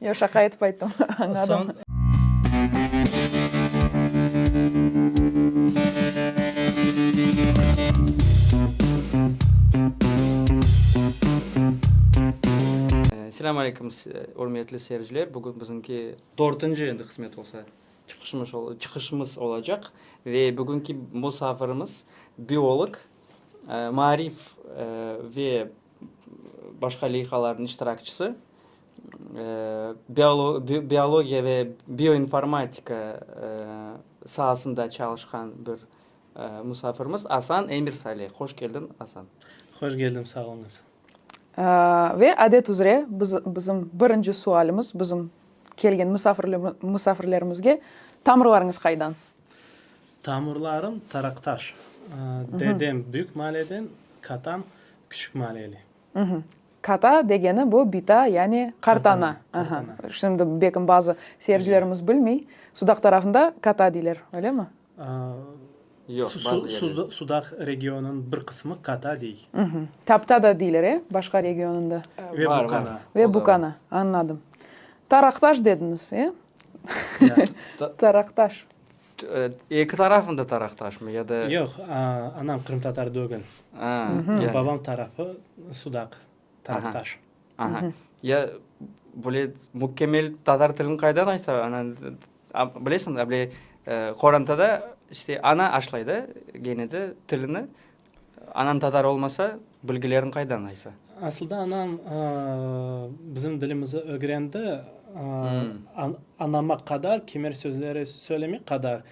Yoq, şaqa etip ayttım, añladım. Selâm aleykum, ürmetli seyirciler, bugün biziñki. Dörtünci endi qısmet olsa. Çıqışımız ol, çıqışımız olacaq. Ve bugünki musafirimiz biolog, maarif ve başqa leyhalarnıñ iştirakçisi, biologiya ve bioinformatika saasında çalışqan bir musafirimiz Asan Emirsalih. Hoş keldiñ, Asan. Hoş keldim, sağ oluñız. Ve adet üzre bizim birinci sualimiz bizim kelgen musafirlerimizge, tamırlarıñız qaydan? Tamırlarım Taraqtaş. Dedem Büyük Maliyeden, katam Küçük Maliyeli. Kata degeni bu bita, yani qartana. Şimdi belkim bazı seyircilerimiz bilmey, Sudaq tarafında kata deyler, öylemi? Sudaq regionınıñ bir qısmı kata dey. Tapta da deyler, e, başqa regionında? Ve bukana. Ve bukana, añladım. Taraqtaş dediniz, e? Taraqtaş. Eki tarafıñ da taraqtaşmı ya da? Yoq, anam qırımtatar dögil. Babam tarafı sudaq, taraqtaş. Ya böyle mükemmel tatar tilini qaydan aysa, bilesiñ, qorantada işte ana aşlay da gene de tilini, Anañ tatar olmasa, bilgileriñ qaydan aysa? Asılda anam bizim dilimizi ögrendi, anama qadar kemer sözleri söylemege qadar.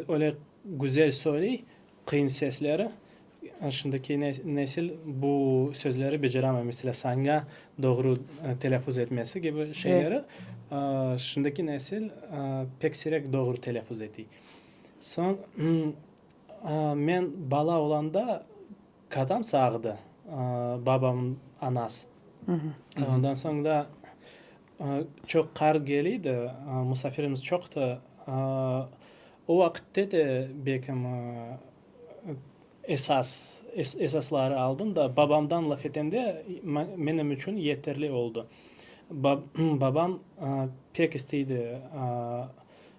Öyle güzel söyley, qıyın sesleri. Şimdiki nesil bu sözleri beceremey. Mesela, saña doğru telâffuz etmesi kibi şeyleri şimdiki nesil pek sirek doğru telâffuz ete. Soñ, Men bala olanda katam sağdı, babamın anas. Ondan soñ da çoq qar keliydi, musafirimiz çoqtı. O vaqitte de bekim esas, esasları aldım da, babamdan laf etende menim içün yeterli oldı. Babam pek isteydi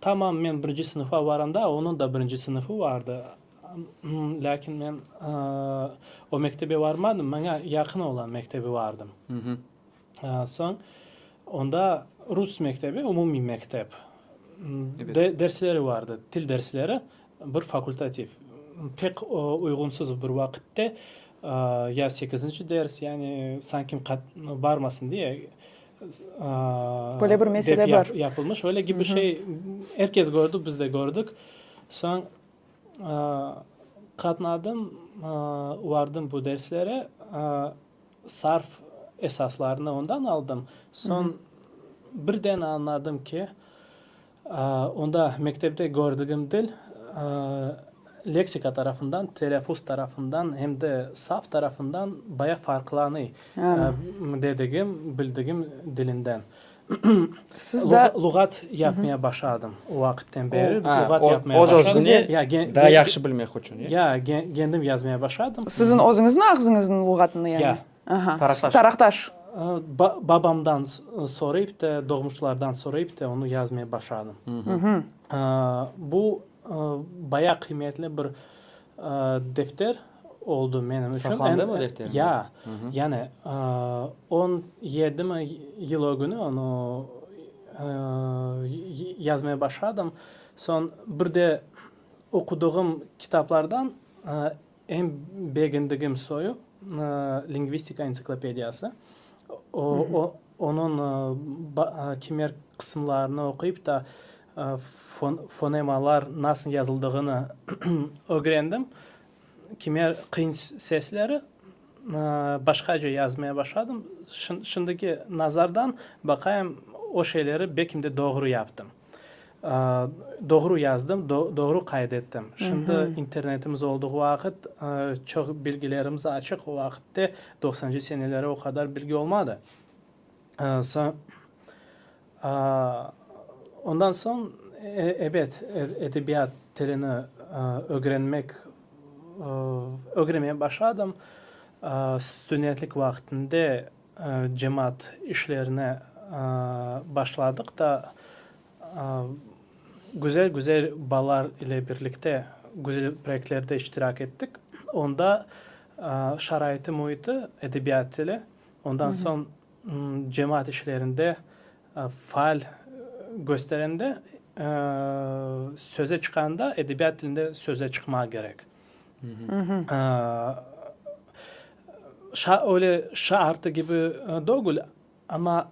Tamam, men birinci sınıfa varanda onıñ da birinci sınıfı vardı, lâkin men o mektebe varmadım, maña yaqın ola mektebe vardım. Soñ onda rus mektebi, umumiy mektep, dersleri vardı, til dersleri, bir fakultativ. Pek uyğunsız bir vaqıtte ya sekizinci ders, yani sanki barmasın diye Böyle bir mesele bar. Dep yapılmış, öyle kibi şey, er kes kördi, biz de kördik. Soñ qatnadım, vardım bu derslere, sarf esaslarını ondan aldım. Soñ birden añladım ki, Onda mektepte kördigim til, leksika tarafından, telâfuz tarafından hem de saf tarafından bayağı farqlanıy, dedigim, bildigim dilinden. Luğat yapmaya başladım, o vaqıtten beri luğat yapmaya başladım. Daa yahşı bilmek içün. Ya, kendim yazmaya başladım. Siziñ özüñizniñ ağzıñızınıñ luğatını yani? Ya. Taraqtaş. Babamdan sorayıp te, doğmuşlardan sorayıp te onı yazmay başladım. Bu bayağı qıymetli bir defter oldu menim içün. Saqlandı mı defter? Ya. Yani on yedi mi yıl o günü onı yazmay başladım. Soñ bir de oqudığım kitaplardan. Eñ begendigim soyu, Lingvistika entsiklopediyası. Onıñ kimer qısımlarını oquyıp ta fonemalar nasıl yazıldığını ögrendim. Kimer qıyın sesleri başqaca yazmaya başladım. Şimdiki nazardan baqayım, o şeyleri belkim de doğru yaptım. Doğru yazdım, doğru qayd ettim. Şimdi internetimiz olduğu vaqıt çoq bilgilerimiz açıq. O vaqıtta doqsancı seneleri o qadar bilgi olmadı. Ondan soñ, ebet, edebiyat tilini ögrenmek, ögrenmeye başladım. Studentlik vaqtında Cemaat işlerine başladıq da, güzel-güzel balar ile birlikte güzel proyektlerde iştirak ettik. Onda şaraiti müiti, edebiyat tili, ondan soñ cemaat işlerinde faal gösterende, söze çıqanda edebiyat tilinde söze çıqmağa kerek. Öyle şaartı kibi degil, amma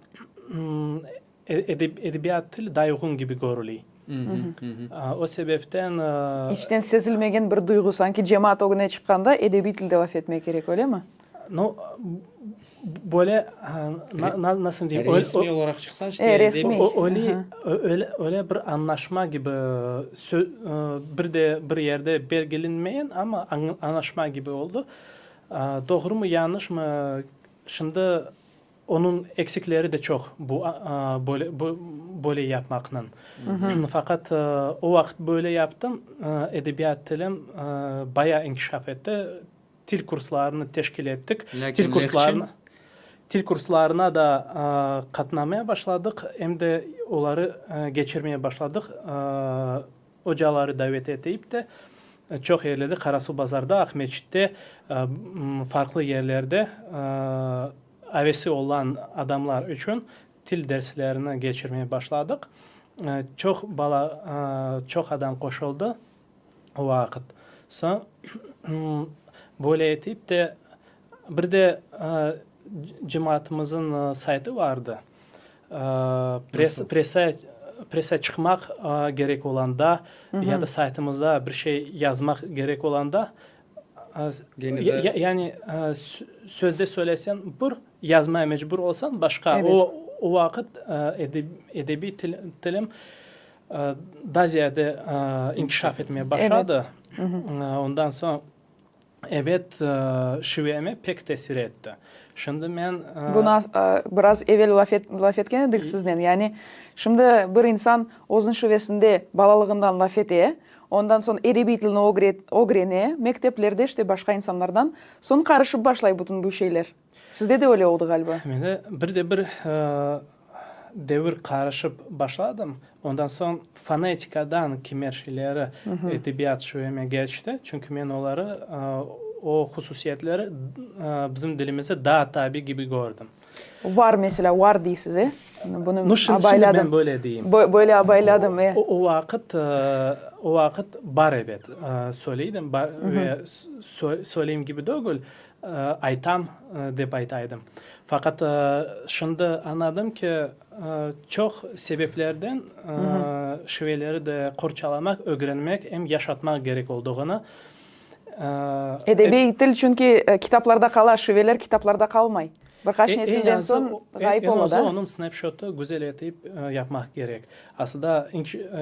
edebiyat til daa uyğun kibi körüley. O sebepten. İçten sezilmegen bir duyğu, sanki cemaat ögüne çıqqanda edebiy tilde laf etmek kerek, öyle mi? No, böyle, nasıl diyim, resmiy olaraq çıqsa, işte, resmiy, öyle, öyle, öyle bir añlaşma kibi, bir de bir yerde belgilenmeyen, amma añlaşma kibi oldu. Doğrumı, yañışmı, şimdi onıñ eksikleri de çoq, bu, böyle, böyle yapmaqnıñ. Faqat o vaqıt böyle yaptım, edebiyat tilim bayağı inkişaf etti. Til kurslarını teşkil ettik. Lâkin lehçe? Til kurslarına da qatnamaya başladıq, em de oları keçirmeye başladıq. Ocaları davet etip de, çoq yerlerde, Qarasuvbazarda, Aqmescitte, farqlı yerlerde avesi olan adamlar içün til derslerini keçirmeye başladıq. Çoq bala, çoq adam qoşuldı. vaqıt. Soñ böyle etip de, bir de cemaatımızın saytı vardı, pressa çıqmaq kerek olanda ya da saytımızda bir şey yazmaq kerek olanda, yani sözde söyleseñ bir, yazmaya mecbur olsañ başqa. O vaqıt edebiy tilim Daa ziyade inkişaf etmeye başladı. Ondan soñ, ebet, şiveme pek tesir etti. Şimdi men. Bunı biraz evel laf etken edik siznen. Yani, şimdi bir insan özüniñ şivesinde balalığından laf ete, ondan soñ edebiy tilni ögrene, mekteplerde işte başqa insanlardan, soñ qarışıp başlay bütün bu şeyler. Sizde de öyle oldı ğaliba. Mende bir de bir devir qarışıp başladım. Ondan soñ fonetikadan kimer şeyleri edebiyat şübeme geçti. Çünki men oları, o hususiyetleri bizim dilimizde daa tabi kibi kördim. Var mesela, var deysiz, e? Bunı abayladım. Böyle deyim. Böyle abayladım, e. O vaqıt, o vaqıt bar ebet. Söyleydim, bar ve söyleyim kibi degil. Aytam, dep ayta edim. Faqat şimdi añladım ki, çoq sebeplerden şiveleri de qorçalamaq, ögrenmek, em yaşatmaq kerek olduğını. Edebiy til çünki kitaplarda qala, şiveler kitaplarda qalmay. Bir qaç nesilden soñ ğayıp ola da. Eñ azı onıñ snapshotı güzel etip yapmaq kerek. Aslında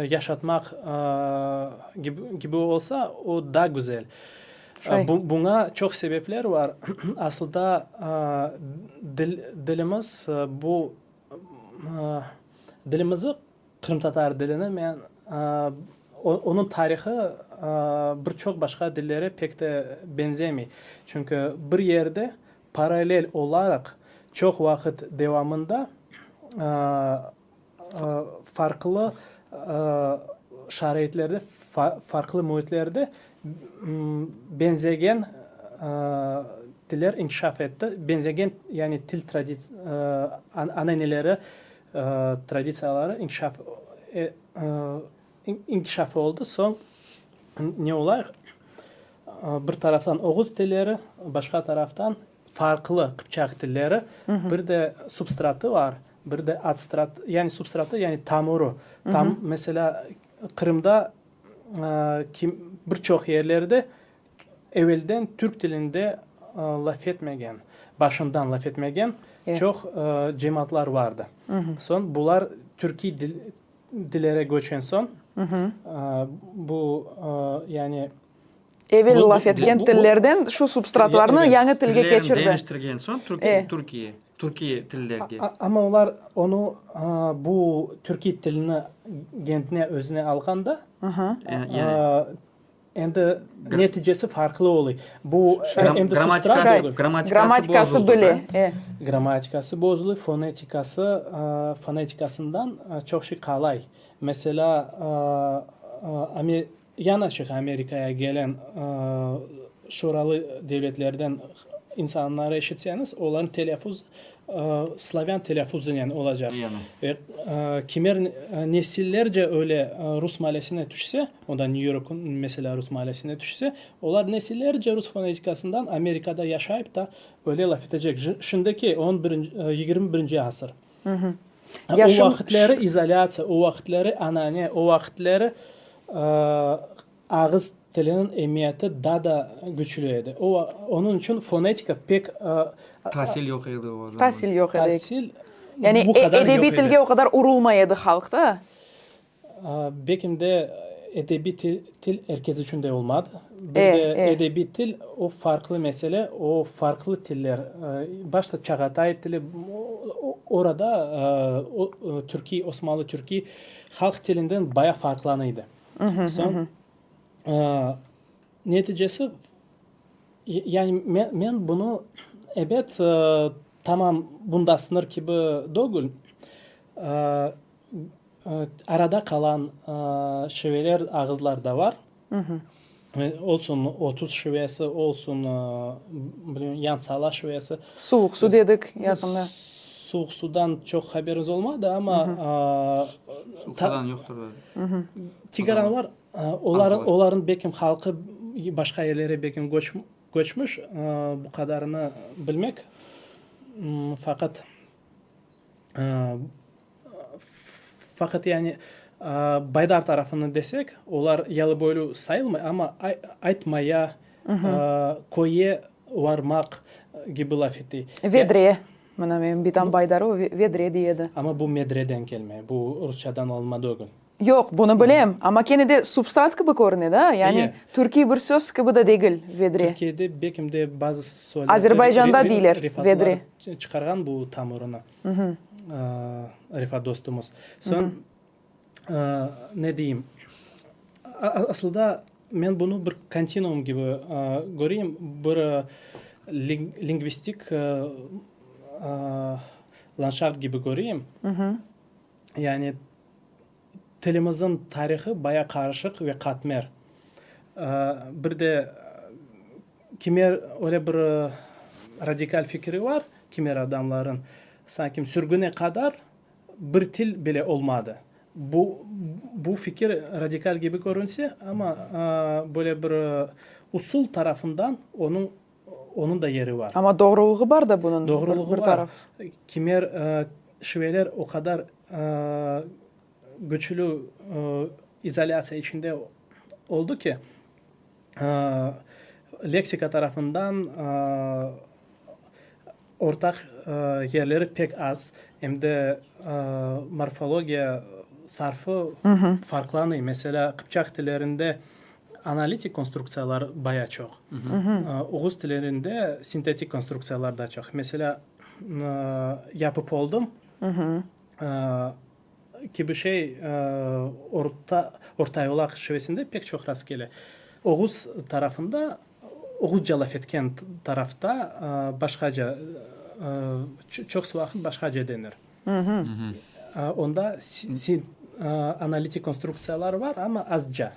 yaşatmaq kibi olsa, o daa güzel. Buña çoq sebepler bar. Asılda, dilimiz bu, dilimizi, qırımtatar dilini men, onıñ tarihı bir çoq başqa dillere pek de benzemey. Çünki bir yerde paralel olaraq çoq vaqıt devamında Farqlı şaraitlerde, farqlı müitlerde beñzegen tiller inkişaf etti. Beñzegen, yani til ananeleri traditsiyaları inkişaf inkişaf oldı. Soñ ne olayıq, bir taraftan oğuz tilleri, başqa taraftan farqlı qıpçaq tilleri, bir de substratı var, bir de adstratı, yani substratı, yani tamurı. Tam, meselâ, Qırımda bir çoq yerlerde evelden türk tilinde laf etmegen, başından laf etmegen çoq cemaatlar vardı. Soñ bular türkiy dillere köçen soñ, bu, yani, Evel laf etken tillerden şu substratlarnı yañı tilge keçirdi. Amma olar onı, bu türkiy tilini kendine, özüne alğanda, endi neticesi farqlı oluy. Bu endi substrat degil. Grammatikası böyle. Grammatikası bozuluy, fonetikası, fonetikasından çoq şey qalay. Mesela, Yanaşıq Amerikaya gelen Şuralı devletlerden insanları eşitseñiz, olarnıñ telâffuzu slavyan telâffuzınen olacaq. Ve kimer nesillerce öyle rus malesine tüşse, o da New York meselâ rus malesine tüşse, olar nesillerce rus fonetikasından Amerikada yaşayıp ta öyle laf etecek. Şimdiki yigirmi birinci asır. O vaqıtları izolâtsiya, o vaqıtları anane, o vaqıtları ağız tiliniñ emiyeti daa da küçlü edi. Onıñ içün fonetika pek. Tasil yoq edi o zaman. Tasil yoq edi. Tasil bu qadar yoq edi. Yani edebiy tilge o qadar urulmay edi halq da. Bekim de edebiy til erkes içün de olmadı. Bir de edebiy til o farqlı mesele, o farqlı tiller. Başta Çağatay tili, orada türkiy, osmanlı türkiy halq tilinden bayağı farqlanıydı. Soñ neticesi, yani men bunı ebet tamam bunda sınır kibi degil, Arada qalan şiveler, ağızlar da var. Olsun otuz şivesi, olsun yan sala şivesi. Suvuq su dedik yaqında. Suvuq sudan çoq haberiz olmadı, amma. Suqadan yoqtur da. Tigaranlar, olarnıñ belki halqı başqa yerlere belki köçmüş, bu qadarını bilmek. Faqat. Faqat yani baydar tarafını desek, olar yalıboylü sayılmay, amma aytmaya, köye varmaq kibi laf ete. Vedre, mına benim bitam baydarı, o vedre dey edi. Amma bu medreden kelme, bu rusçadan alınma degil. Yoq, bunı bilem, amma kene de substrat kibi körüne da, yani türkiy bir söz kibi de degil vedre. Türkiyede bekim de bazı soylar, refatlar çıqarğan bu tamırını. Refat dostumız. Soñ, ne deyim, asılda men bunı bir kontinuum kibi köreyim, bir lingvistik landşaft kibi köreyim. Yani Tilimizin tarihı baya qarışıq ve qatmer. Bir de kime öyle bir radikal fikri bar, kimer adamların, sanki sürgüne qadar bir til bile olmadı. Bu, bu fikir radikal kibi körünse, amma böyle bir usul tarafından onıñ, Onıñ da yeri bar. Amma doğrulığı bar da bunıñ, bir taraf. Doğrulığı bar. Kimer şiveler o qadar küçlü izolâtsiya içinde oldı ki, leksika tarafından Ortaq yerleri pek az, em de morfologiya sarfı farqlanıy. Meselâ, qıpçaq tillerinde analitik konstruktsiyalar baya çoq, oğuz tillerinde sintetik konstruktsiyalar da çoq. Meselâ, yapıp oldım. kibi şey orta ortayolaq şivesinde pek çoq rastkele. Oğuz tarafında, oğuzca laf etken tarafta başqaca, çoqusı vaqıt başqaca denir. Onda analitik konstruktsiyalar bar, amma azca.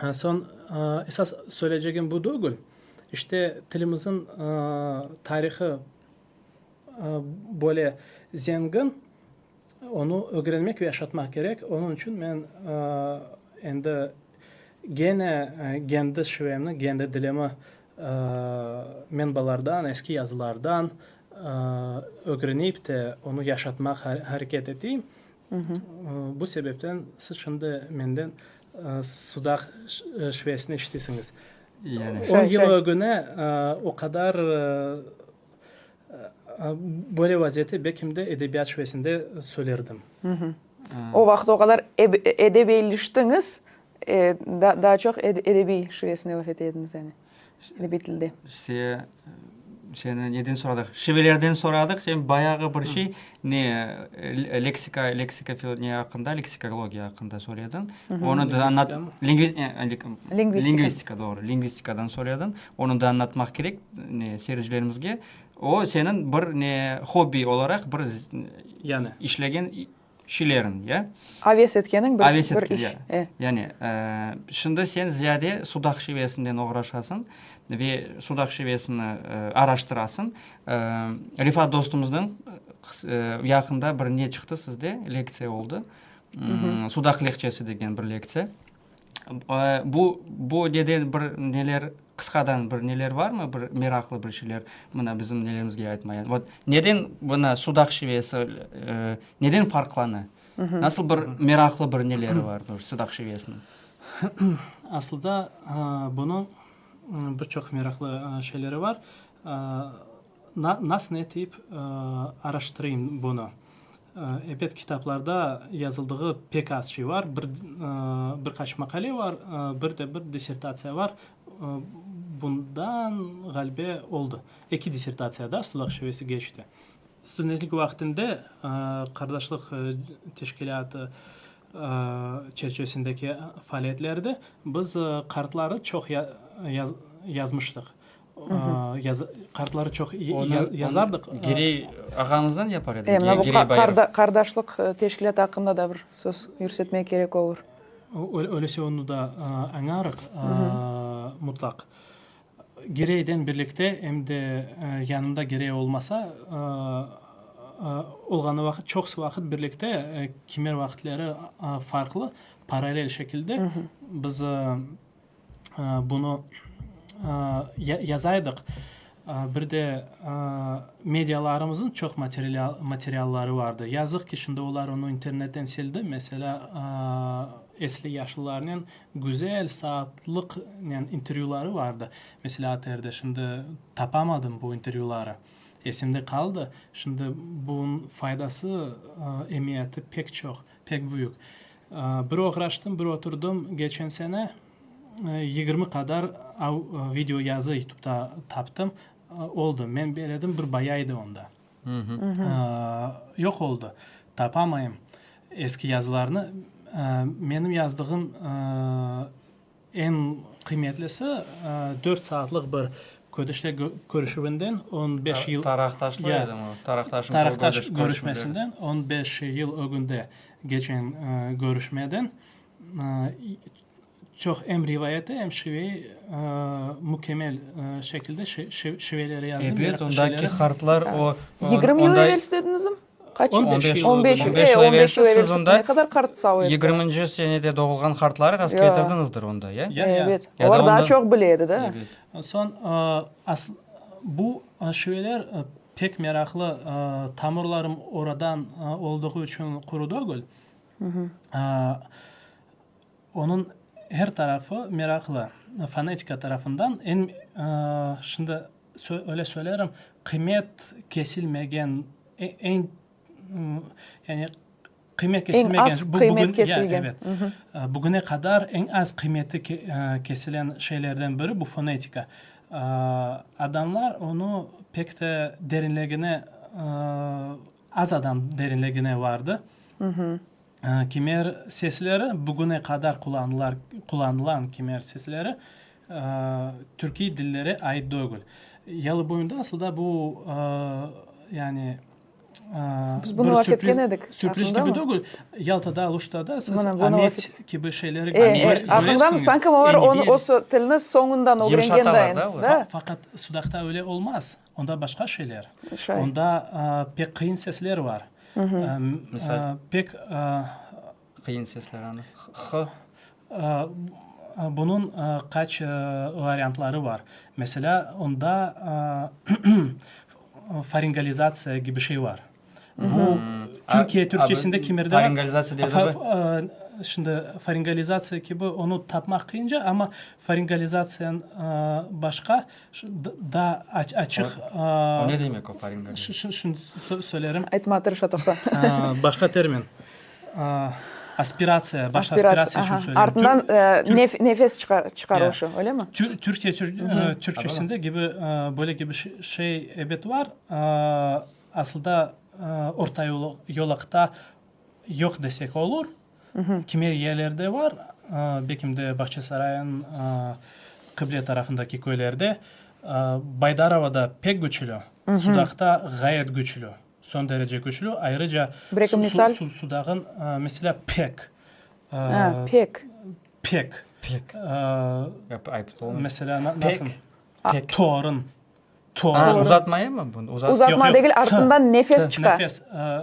Soñ, esas söyleycegim bu degil, işte tilimizin tarihı Böyle zengin, onı ögrenmek ve yaşatmaq kerek. Onıñ içün men endi gene kendi şivemni, kendi dilimi menbalardan, eski yazılardan ögrenip de onı yaşatmaq hareket eteyim. Bu sebepten siz şimdi menden sudaq şivesini eşitesiñiz. On yıl ögüne o qadar böyle vaziyette belkim de edebiyat şübesinde söylerdim. O vaqıt o qadar edebiyleştiñiz, daa çoq edebiy şübesinde laf ete ediñiz yani, edebiy tilde. Seni neden soradıq? Şivelerden soradıq, sen bayağı bir şey, ne, leksika, leksika ne aqqında, leksikologiya aqqında soradın. Onı da anlat. Lingvistika. Lingvistika, doğru, lingvistikadan soradın. Onı da anlatmaq kerek, ne, seyircilerimizge. O, seniñ bir, ne, hobbi olaraq bir işlegen, kişilerin, ya. Aves etkeniñ bir iş. Aves etken, ya. Yani, şimdi sen ziyade sudaq şivesinden oğraşasıñ ve sudaq şivesini araştırasıñ. Refat dostumızdan yaqında bir ne çıqtı sizde, lektsiya oldı. Sudaq lehçesi degen bir lektsiya. Bu, bu neden bir neler, qısqadan bir neler barmı, bir meraqlı bir şeyler, mına bizim nelerimizge aytmayan? Vot, neden mına Sudaq şivesi, neden farqlana? Nasıl bir meraqlı bir neleri bar bu Sudaq şivesiniñ? Asılda bunıñ bir çoq meraqlı şeyleri bar. Nas ne tip araştırayım bunı? Ebet kitaplarda yazıldığı pek az şey var, bir bir qaç maqale var, bir de bir dissertatsiya var, bundan ğalibe oldı, eki dissertatsiya da Sudaq şivesi geçti. Studentlik vaqtında qardaşlıq teşkilâtı çerçivesindeki faaliyetlerde biz qartları çoq yazmıştıq. Kartları çoq yazardıq. Girey ağamızdan yapar edik. Mına bu qardaşlıq teşkilâtı aqqında da bir söz yürsetmek kerek olur. Öylese onı da añarıq mutlaq. Gireyden birlikte, em de yanında Girey olmasa, olğanı vaqıt, çoqusı vaqıt birlikte, kimer vaqıtları farqlı, paralel şekilde biz bunı yaza edik. Bir de medialarımıznıñ çoq materialları vardı. Yazıq ki, şimdi olar onı internetten sildi. Meselâ, esli yaşlılarnen güzel saatlıqnen intervyüları vardı. Meselâ, ATRda. Şimdi tapamadım bu intervyüları. Esimde qaldı. Şimdi bunıñ faydası, emiyeti pek çoq. Pek büyük. Bir oğraştım, bir oturdım. Geçen sene yigirmi qadar video yazı yutubda taptım. Oldı. Men beledim, bir baya edi onda. Yoq oldı. Tapamayım eski yazılarnı. Menim yazdığım Eñ qıymetlisi, dört saatlıq bir ködüşle körüşüvinden on beş yıl. Taraqtaşlı edim o. Taraqtaşım. Taraqtaş körüşmesinden on beş yıl ögünde geçen körüşmeden çoq em rivayeti, em şiveyi mükemmel şekilde şiveleri yazdım. Ebet, ondaki hartlar o. Yigirmi yıl evelsi dediniz em? On beş yıl evelsiz siz onda yigirminci senede doğulğan qartları rastketirdiñizdir onda, ya? Evet, olar daa çoq bile edi, da. Soñ, bu şiveler pek meraqlı, tamırlarım oradan olduğu içün quru degil, onıñ er tarafı meraqlı, fonetika tarafından. Şimdi. Öyle söylerim, qıymet kesilmegen, eñ, yani qıymet kesilmegen. Eñ az qıymet kesilgen. Bugüne qadar eñ az qıymeti kesilen şeylerden biri bu fonetika. Adamlar onı pek de derinligine, az adam derinligine vardı. Kimer sesleri bugüne qadar qullanılan kimer sesleri. Türkiy dillere ait dögül. Yalıboyunda asılda bu, yani, bir sürpriz, sürpriz kibi dögül. Yaltada, Aluşta da siz amet kibi şeyleri göresiñiz. Aqıñdamı? Sañki olar onı, o tilni soñundan ögrengendayin. Faqat sudaqta öyle olmaz. Onda başqa şeyler. Onda pek qıyın sesler var. Pek, Qıyın sesler anı, q, ı. Bunıñ qaç variantları bar. Meselâ, onda faringalizatsiya kibi şey bar. Bu Türkiye Türkçesinde kimerde bar? Faringalizatsiya degani? Şimdi faringalizatsiya kibi onı tapmaq qıyınca, amma faringalizatsiyanıñ başqa daa açıq. O ne demek o faringalizatsiya? Şimdi söylerim. Aytmağa tırışa, toqta. Başqa termin. Aspiratsiya, baş aspiratsiya içün söyleyim. Ardından nefes çıqarışı, öylemi? Türkiye Türkçesinde kibi, böyle kibi şey ebet var. Asılda orta yolaqta yoq desek olur. Kimi yerlerde var, belki de Bağçasaray'ın qıble tarafındaki köylerde. Baydarova'da pek küçlü, Sudaqta ğayet küçlü. Son derece küçlü, ayrıca sudağın mesela pek, pek, mesela nasıl, torun, torun. Uzatmaya mı bu? Uzatma degil, artından nefes çıqa.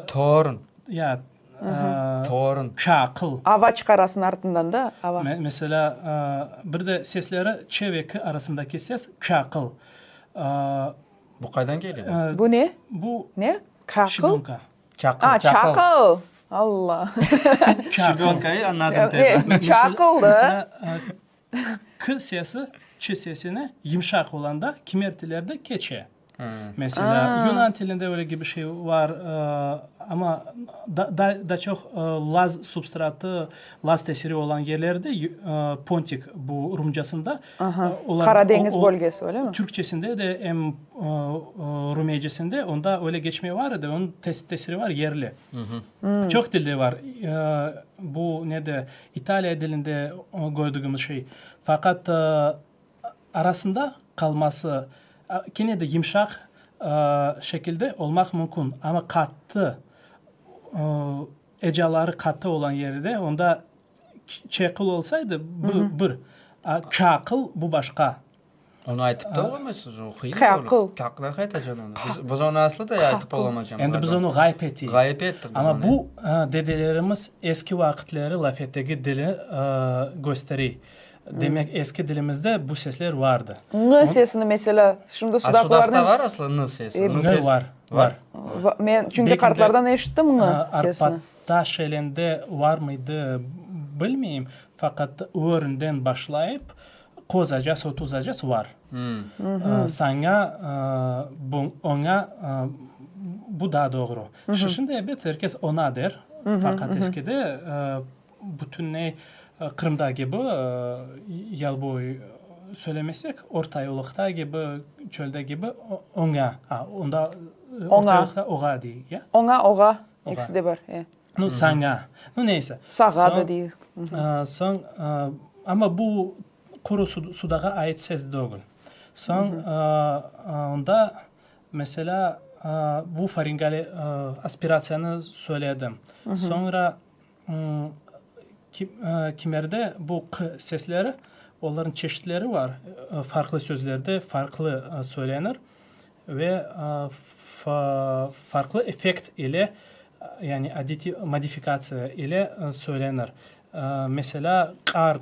Torun. Ya, torun. Çaqıl. Ava çıqarasın artından da, ava. Mesela bir de sesleri ç ve k arasındaki ses çaqıl. Bu qaydan kele bu? Bu ne? Bu ne? Çaqıl? Şibönka. Çaqıl. A, çaqıl! Alla! Şibönkayı añladım tezden. Çaqıldı. Mesela, k sesi ç sesine yımşaq olanda kimer tillerde keçe. Mesela, yunan tillinde öyle kibi şey var, amma daa çoq laz substratı, laz tesiri olan yerlerde, pontik bu rumcasında, Aha, Qara deñiz bölgesi, öyle mi? Türkçesinde de, em rumiyecesinde onda öyle geçme var edi, onıñ tesiri var, yerli. Çoq dilde var. Bu ne de, İtaliya dilinde kördügimiz şey. Faqat arasında qalması, kene de yımşaq şekilde olmaq mümkün, amma qattı, ecaları qattı olan yerde onda Çeqıl olsaydı, bu bir, a kâqıl, bu başqa. Onı aytıp da olamaysız, o qıyın. Kâqıl. Kâqıl naqe aytacağın onı? Biz onı aslı da aytıp olamaycamız. Endi biz onı ğayıp eteyik. Ğayıp ettik. Amma bu dedelerimiz eski vaqıtları laf etegi dili gösterey. Demek, eski dilimizde bu sesler vardı. Ñ sesini mesela, şimdi sudaqlılarnen. Sudaqta var aslı ñ sesi? Ñ var, var. Men çünki qartlardan eşittim ñ sesini. Taş elinde var mıydı, bilmeyim, faqat öğründen başlayıp kozacası, tuzacası var. Saña, oña, bu daa doğru. Şişinde, ebet, er kes ona der, faqat eskide bütünney Qırımda kibi yalboy söylemesek, ortayollıqta kibi, çölde kibi oña, onda ortayollıqta oğa dey, ya? Oña, oğa. İkisi de bar, e. Nu, saña. Nu, neyse. Sağa da deyiz. Soñ, amma bu quru sudağa ait ses degil. Soñ, onda, meselâ, bu faringal aspiratsiyanı söyledim. Soñra kimerde bu q sesleri, olarnıñ çeşitleri bar, farqlı sözlerde farqlı söylenir. ve farqlı effekt ile, yani aditiy modifikatsiya ile söylenir, meselâ, qart,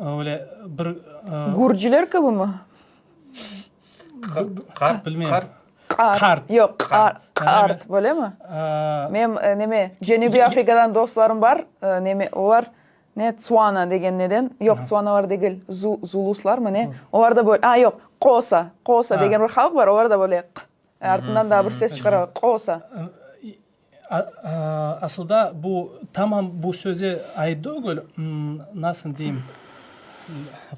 öyle bir. Gürciler kibimi? Qart bilmeyim. Qart. Yoq, qart. Qart, böylemi? Menim neme, Cenübiy Afrikadan dostlarım bar, neme, olar Ne, Tsuana degen neden? Yoq, Tsuanalar degil, Zuluslar mı ne? Olar da böyle, a, yoq, Qosa, Qosa degen bir halıq bar, olar da böyle q artından daa bir ses çıqaralar, Qosa. Asılda bu, tamam bu söze ait degil, nasıl deyim,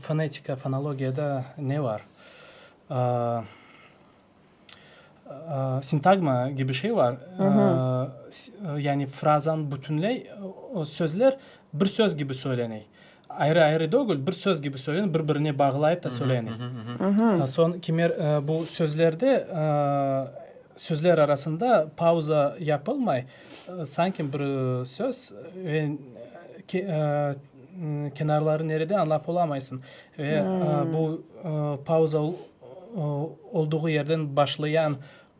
fonetika, fonologiyada ne bar? Sintagma kibi şey bar, yani frazanı bütünley, sözler bir söz kibi söyleney. Ayrı-ayrı degil, bir söz kibi söyleney, bir-birine bağlayıp da söyleney. Soñ kimer bu sözlerde, sözler arasında pauza yapılmay, sanki bir söz ve. Kenarları nerede, añlap olamaysıñ. Ve bu pauza olduğu yerden başlayan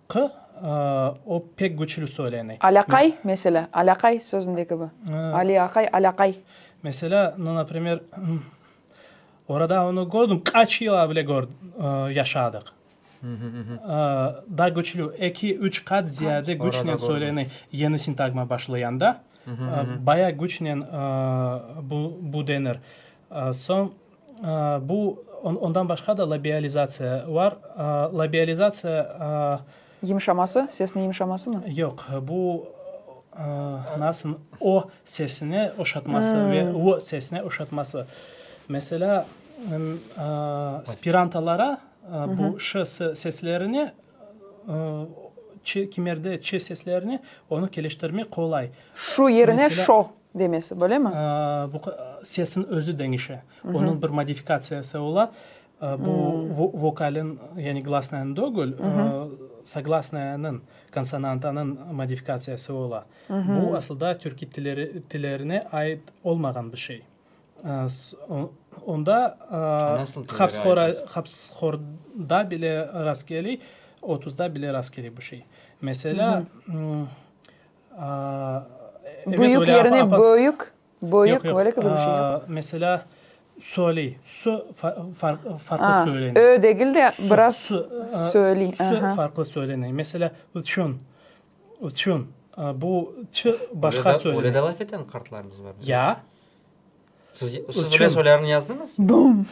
q, o pek küçlü söylene. Alâqay, meselâ, alâqay sözünde kibi. Ali aqay, alâqay. Meselâ, no naprimer, orada onı kördim, qaç yıl avle yaşadıq. Daa güçlü, eki, üç qat ziyade güçnen söylene yeni sintagma başlayanda, bayağı güçnen bu denir. Soñ, bu, ondan başqa da labializatsiya var. Labializatsiya. Yımşaması, sesni yımşamasımı? Yoq, bu, nasıl, o sesini oşatması ve ı sesini oşatması. Meselâ, spirantalara Bu ş, s seslerine, ç, kimerde ç seslerine onı keleştirmek qolay. Şu yerine şo demesi, böylemi? Bu sesin özü deñişe. Onıñ bir modifikatsiyası ola. Bu vokalin, yani glasnıyan degil, soglasnıyanıñ, konsonantanıñ modifikatsiyası ola. Bu asılda türkiy tillerine ait olmağan bir şey. Onda hapsxorda bile rastgeliy, otuzda bile rastgeliy bu şey. Meselâ, Büyük yerine böyük, böyük, böyle bir şey yoq. Meselâ, söyley, sö farqlı söyleniy. Ö degil de biraz söyley. Sö farqlı söyleney. Meselâ, uçun. Üçün, bu çı başqa söyle. Öyle de laf eten qartlarımız var. Ya. Siz, siz öyle söylerini yazdınız? Bum.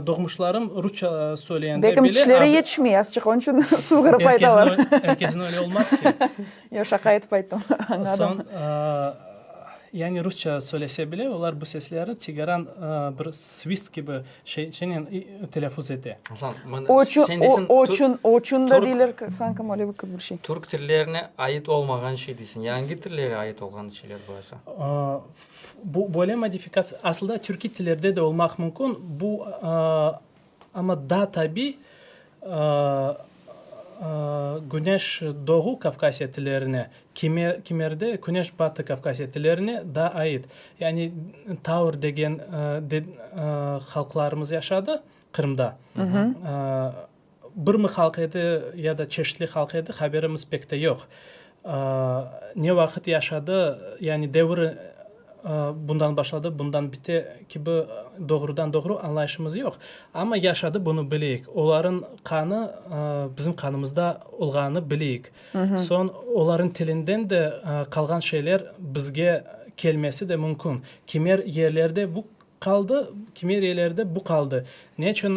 Doğmuşlarım Rusça söyleyen. Bekim tişleri yetişmey, azçıq, onun için sızğırıp aytalar. Herkesin öyle olmaz ki. Yo, şaka etip ayttım, anladım. Son, yani Rusça söylese bile, olar bu sesleri Tigaran bir svist kibi Şe, şenen i, telâffuz ete. Asan, mına, Oçu, şen o, deysen, tur- oçun, oçun da Türk- deyler, k- sanki male bir, k- bir şey. Türk tillerine ait olmağan şey deysen, yangi tillere ait olğan şeyler bolsa. Aa, f- bu böyle modifikatsiya, asılda türkiy tillerde de olmaq mümkün, bu, aa, amma daa tabiy, Küneş doğu Kavkasya tillerine, kimerde Küneş batı Kavkasya tillerine daa ait, yani Tavr degen halqlarımız yaşadı Qırımda. Birmi halq edi ya da çeşitli halq edi, haberimiz pek de yoq. Ne vaqıt yaşadı, yani deviri bundan başladı, bundan bite kibi doğrudan-doğru añlayışımız yoq. Amma yaşadı, bunı bileyik. Olarnıñ qanı bizim qanımızda olğanını bileyik. Soñ olarnıñ tilinden de qalğan şeyler bizge kelmesi de mümkün. Kimer yerlerde bu qaldı, kimer yerlerde bu qaldı. Ne içün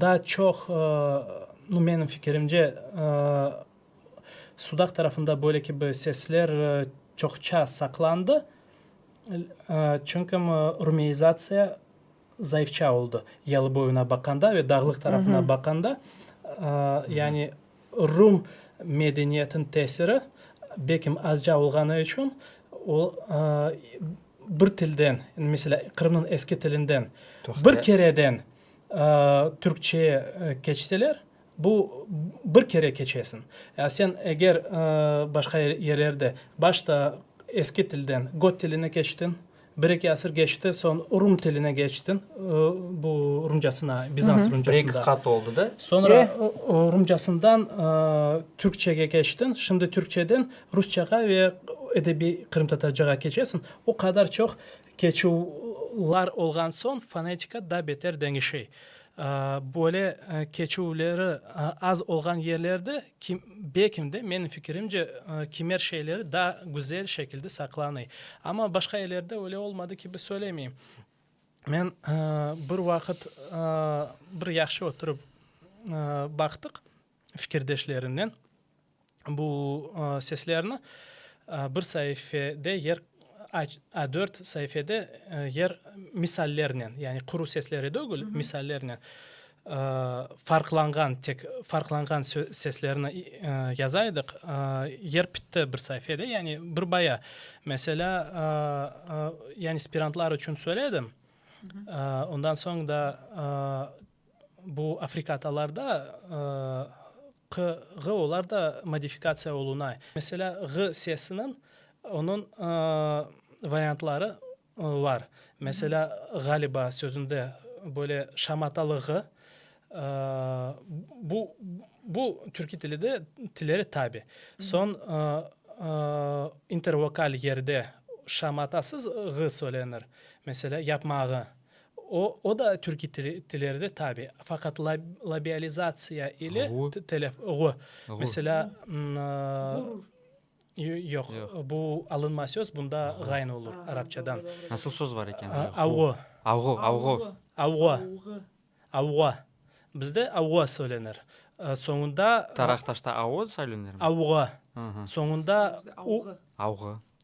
daa çoq, menim fikirimce, Sudaq tarafında böyle kibi sesler çoqça saqlandı, çünküm rumeizatsiya zayıfça oldı, Yalı boyuna baqanda ve Dağlıq tarafına baqanda, yani rum medeniyetin tesiri bekim azca olğanı içün o bir tilden, meselâ, Qırımnıñ eski tilinden bir kereden türkçeye keçseler, Bu bir kere keçesin. Ya sen eger başqa yererde başta eski tilden got tiline keçtin, bir eki asır keçti, soñ rum tiline keçtin, bu rumcasına, bizans rumcasına. Bir eki qat oldı da. Soñra rumcasından türkçege keçtin, şimdi türkçeden rusçağa ve edebiy qırımtatarcağa keçesin, o qadar çoq Keçüvlar olğan soñ fonetika daa beter deñişe. Böyle keçüvleri az olğan yerlerde, belkim de, menim fikirimce, kimer şeyleri daa güzel şekilde saqlanıy. Amma başqa yerlerde öyle olmadı kibi söylemeyim. Men bir vaqıt bir yahşı oturıp baqtıq. fikirdeşlerinden bu seslerni bir saifede yer A4 saifede yer misallernen, yani quru sesleri degil, misallernen farqlanğan tek farqlanğan seslerni yaza edik, yer bitti bir saifede, yani bir baya. Meselâ, yani aspirantlar içün söyledim, ondan soñ da. Bu afrikatalarda q, ğ olar da modifikatsiya olunay. Meselâ, ğ sesiniñ onıñ variantları var. Meselâ, ğaliba sözünde böyle şamatalı ğ. Bu, bu türkiy tili de, tilleri tabi. Soñ intervokal yerde şamatasız ğ söylenir. Meselâ, yapmağı. O da türkiy tilerde tabi, faqat labializatsiya ile telef, ğu, meselâ, yoq, bu alınma söz, bunda ğayn olur arapçadan. Nasıl söz var eken? Avğu. Avğu, avğu. Avğu, avğu. Bizde avğu söylenir. Soñunda. Taraqtaşta avğu söylenirmi? Avğu. Soñunda u. Avğu.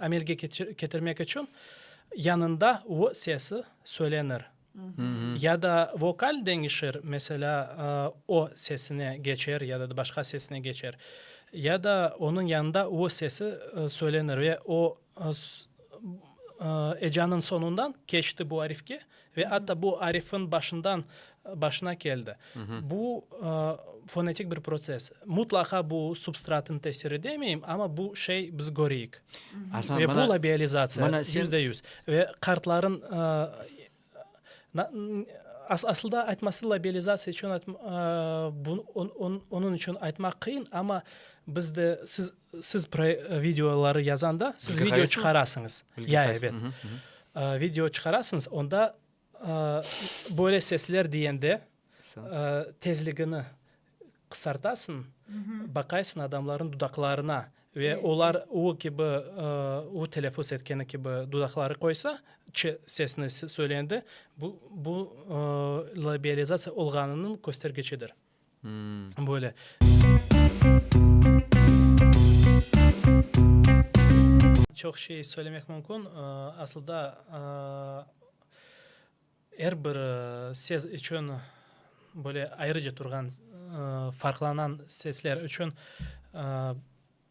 amelge ketirmek içün yanında vo sesi söylenir ya da vokal deñişir, meselâ, o sesine keçer ya da başqa sesine keçer, ya da onıñ yanında o sesi söylenir ve o ecanıñ soñundan keçti bu arifke Ve atta bu arifin başından başına keldi. Bu fonetik bir protsess. Mutlaqa bu substratın tesiri demeyim, amma bu şey biz köreyik. Ve bu labializatsiya, yüzde yüz. Ve qartların asılda aytması labializatsiya içün onıñ içün aytmaq qıyın, amma biz de siz Siz videoları yazanda, siz video çıqarasıñız. Ya, ebet. Video çıqarasıñız, onda böyle sesler deyende tezligini qısartasıñ, baqaysıñ adamlarnıñ dudaqlarına ve olar u kibi, u telâfuz etkeni kibi dudaqları qoysa, ç sesini söyleyende, bu labializasiya olğanınıñ köstergecidir. Böyle. Çoq şey söylemek mümkün. Asılda er bir ses içün böyle ayrıca turğan farqlanan sesler içün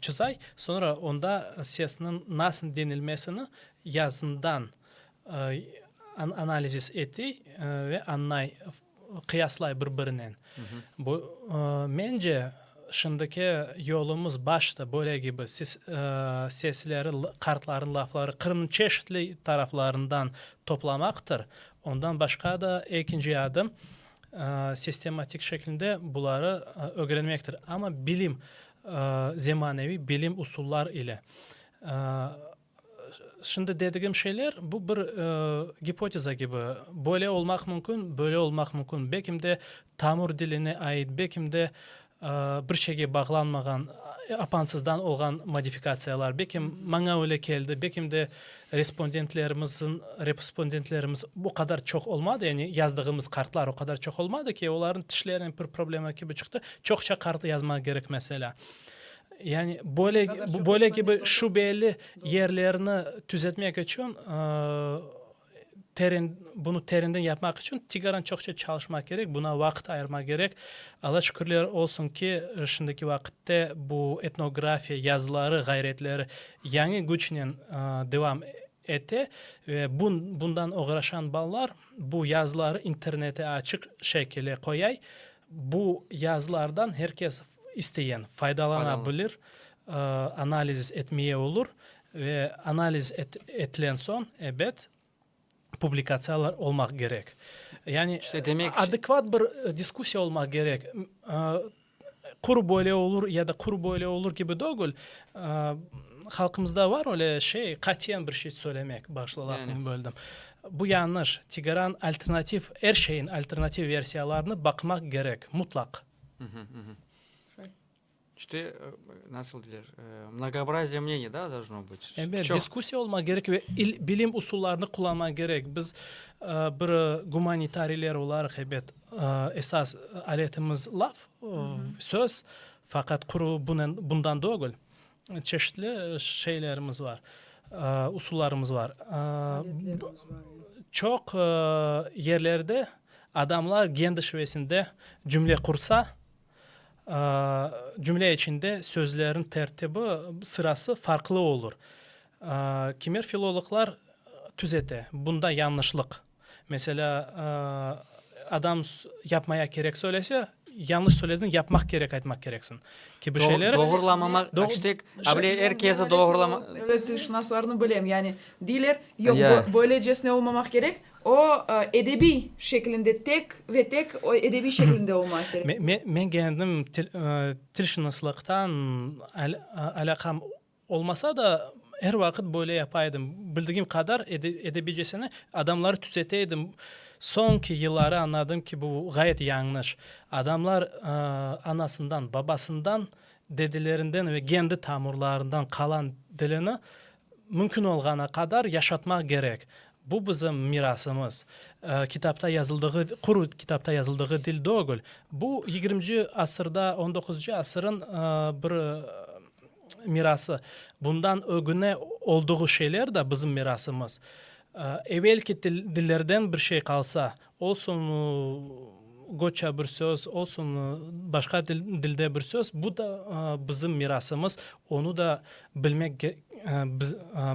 Çızay, soñra onda sesniñ nasıl denilmesini yazından analizis etey ve añlay, qıyaslay bir-birinen. Bu, mence, şimdiki yolumız başta böyle kibi, siz sesleri, qartlarnıñ lafları Qırımnıñ çeşitli taraflarından toplamaqtır. Ondan başqa da ekinci adım, Sistematik şeklinde buları ögrenmektir, amma bilim, zemaneviy bilim usullar ile. Şimdi dedigim şeyler, bu bir gipoteza kibi, böyle olmaq mümkün, böyle olmaq mümkün, bekim de tamur diline ait, bekim de Bir şeyge bağlanmağan, apansızdan olğan modifikatsiyalar, belki maña öyle keldi, belki de respondentlerimizin, respondentlerimiz o qadar çoq olmadı, yani yazdığımız kartlar o qadar çoq olmadı ki, olarnıñ tişlerinen bir problema kibi çıqtı, çoqça kart yazmağa gerek mesela. Yani böyle, böyle kibi şübeli yerlerni tüzetmek içün, ııı, Teren, bunı terinden yapmaq içün tigaran çoqça çalışmaq kerek, buna vaqıt ayırmaq kerek. Alla şükürler olsun ki, şimdiki vaqıtte bu etnografiya yazıları, ğayretleri yañı güçnen devam ete ve bun, bundan oğraşan balalar bu yazıları internete açıq şekile qoyay, bu yazılardan her kes isteyen faydalana bilir, analiz etmeye olur, Ve analiz etilen soñ, ebet, publikatsiyalar olmaq kerek. Yani adekvat bir diskussiya olmaq kerek. Qur böyle olur ya da qur böyle olur kibi degil. Halqımızda bar öyle şey, qatiyen bir şey söylemek. Bağışla, lafıñı böldim. Bu yañış. Tigeran alternativ, er şeyin alternativ versiyalarını baqmaq kerek, mutlaq. İşte, nasıl deyler, mnogoobraziye mneniy da должно bıt. Elbet, diskussiya olmaq kerek ve il, bilim usullarını qullanmaq kerek. Biz bir gumanitariyler olaraq, elbet, esas aletimiz laf, söz, faqat quru bunen, bundan degil, çeşitli şeylerimiz bar, usullarımız bar. Aletlerimiz bar, elbet. Çoq yerlerde adamlar gen dışvesinde cümle qursa, Cümle içinde sözlerniñ tertibi, sırası farqlı olur. Kimer filologlar tüzete, bunda yañlışlıq. Meselâ, adam yapmaya kerek söylese, yañlış söylediñ, yapmaq kerek aytmaq kereksiñ, kibi şeyleri. Doğrulamamaq, aştek, able er kezi doğrulama. Devlet tilşınaslarını bilem, yani, deyler, yoq, böylecesine olmamaq kerek, O, edebiy şeklinde, tek ve tek edebiy şeklinde olmağa kerek. Men kendim tilşınıslıqtan alâqam olmasa da, er vaqıt böyle yapa edim. Bildigim qadar edebiycesine adamları tüsete edim. Soñki yılları añladım ki, bu ğayet yañlış. Adamlar anasından, babasından, dedelerinden ve kendi tamurlarından qalan dilini Mümkün olğanı qadar yaşatmaq kerek. Bu bizim mirasımız. Kitapta yazıldığı, quru kitapta yazıldığı dil degil. Bu yigirmci asırda, on doquzuncu asırın bir mirası. Bundan ögüne olduğu şeyler de bizim mirasımız. Evelki dillerden bir şey qalsa, Olsun goçça bir söz, olsun başqa dilde bir söz, bu da bizim mirasımız, onı da bilmek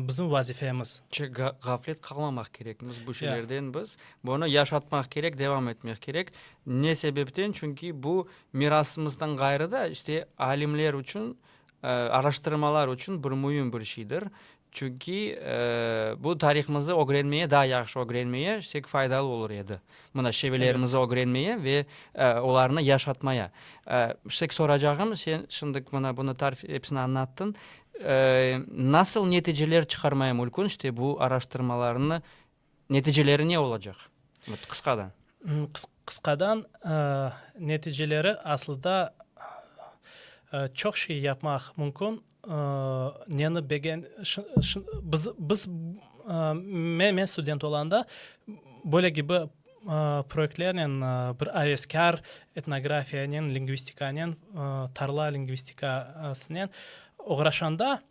bizim vazifemiz. Ğaflet qalmamaq kerekmiz bu şeylerden biz, bunı yaşatmaq kerek, devam etmek kerek. Ne sebepten? Çünki bu mirasımızdan ğayrı da işte alimler içün, araştırmalar içün bir müim bir şeydir. Çünki bu tarihımızı ögrenmeye, daa yahşı ögrenmeye şek faydalı olur edi. Mına, şebelerimizi ögrenmeye ve olarnı yaşatmaya. Şek soracağım, sen şimdi mına bunı tarif, epsini añattıñ, nasıl neticeler çıqarmaya mülkün, işte bu araştırmalarnı Neticeleri ne olacaq? Qısqadan. Qısqadan, neticeleri aslıda çoq şey yapmaq mümkün. Neni begen, biz, men student olanda böyle kibi proyektlernen bir aveskâr etnografiyanen, lingvistikanen, tarla lingvistikasınen oğraşanda,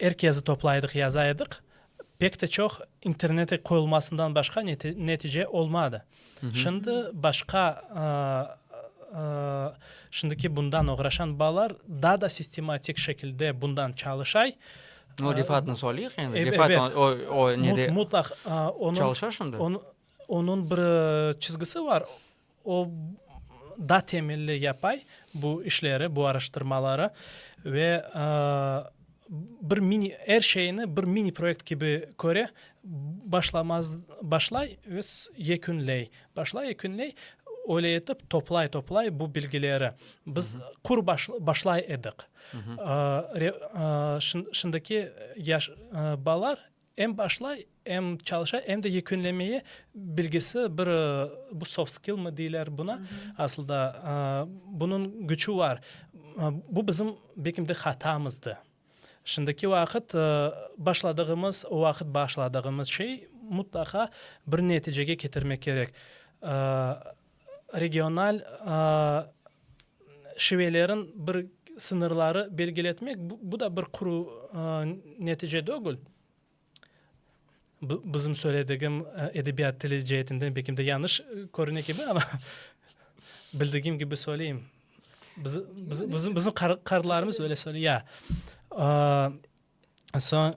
Er kezi toplaydıq, yaza ediq. Pek de çoq internete qoyulmasından başqa netice olmadı. Şimdi başqa, şimdiki bundan oğraşan balalar daa da sistematik şekilde bundan çalışay. O Refatnı soyleyik endi. Refat o nede çalışa şimdi? Onıñ bir çizgisi bar. O, da temelli yapay bu işleri, bu araştırmaları ve bir mini, er şeyni bir mini proyekt kibi köre, başlamaz, başlay ve yekünley, başlay, yekünley, öyle etip toplay, toplay bu bilgileri. Biz qur başlay edik. Şimdiki yaş balalar, Em başlay, em çalışa, em de yekünlemeye bilgisi bir, bu soft skill mı deyler buna, asılda bunıñ küçü var. Bu bizim belki de hatamızdı. Şimdiki vaqıt başladığımız, o vaqıt başladığımız şey mutlaqa bir neticege ketirmek kerek. regional şivelerin bir sıñırları belgiletmek, bu da bir quru netice degil. Bizim söyledigim edebiyat tili ceetinden belki de yañış körüne kibi, amma bildigim kibi söyleyim. Bizim qarılarımız öyle söyley. Ya, soñ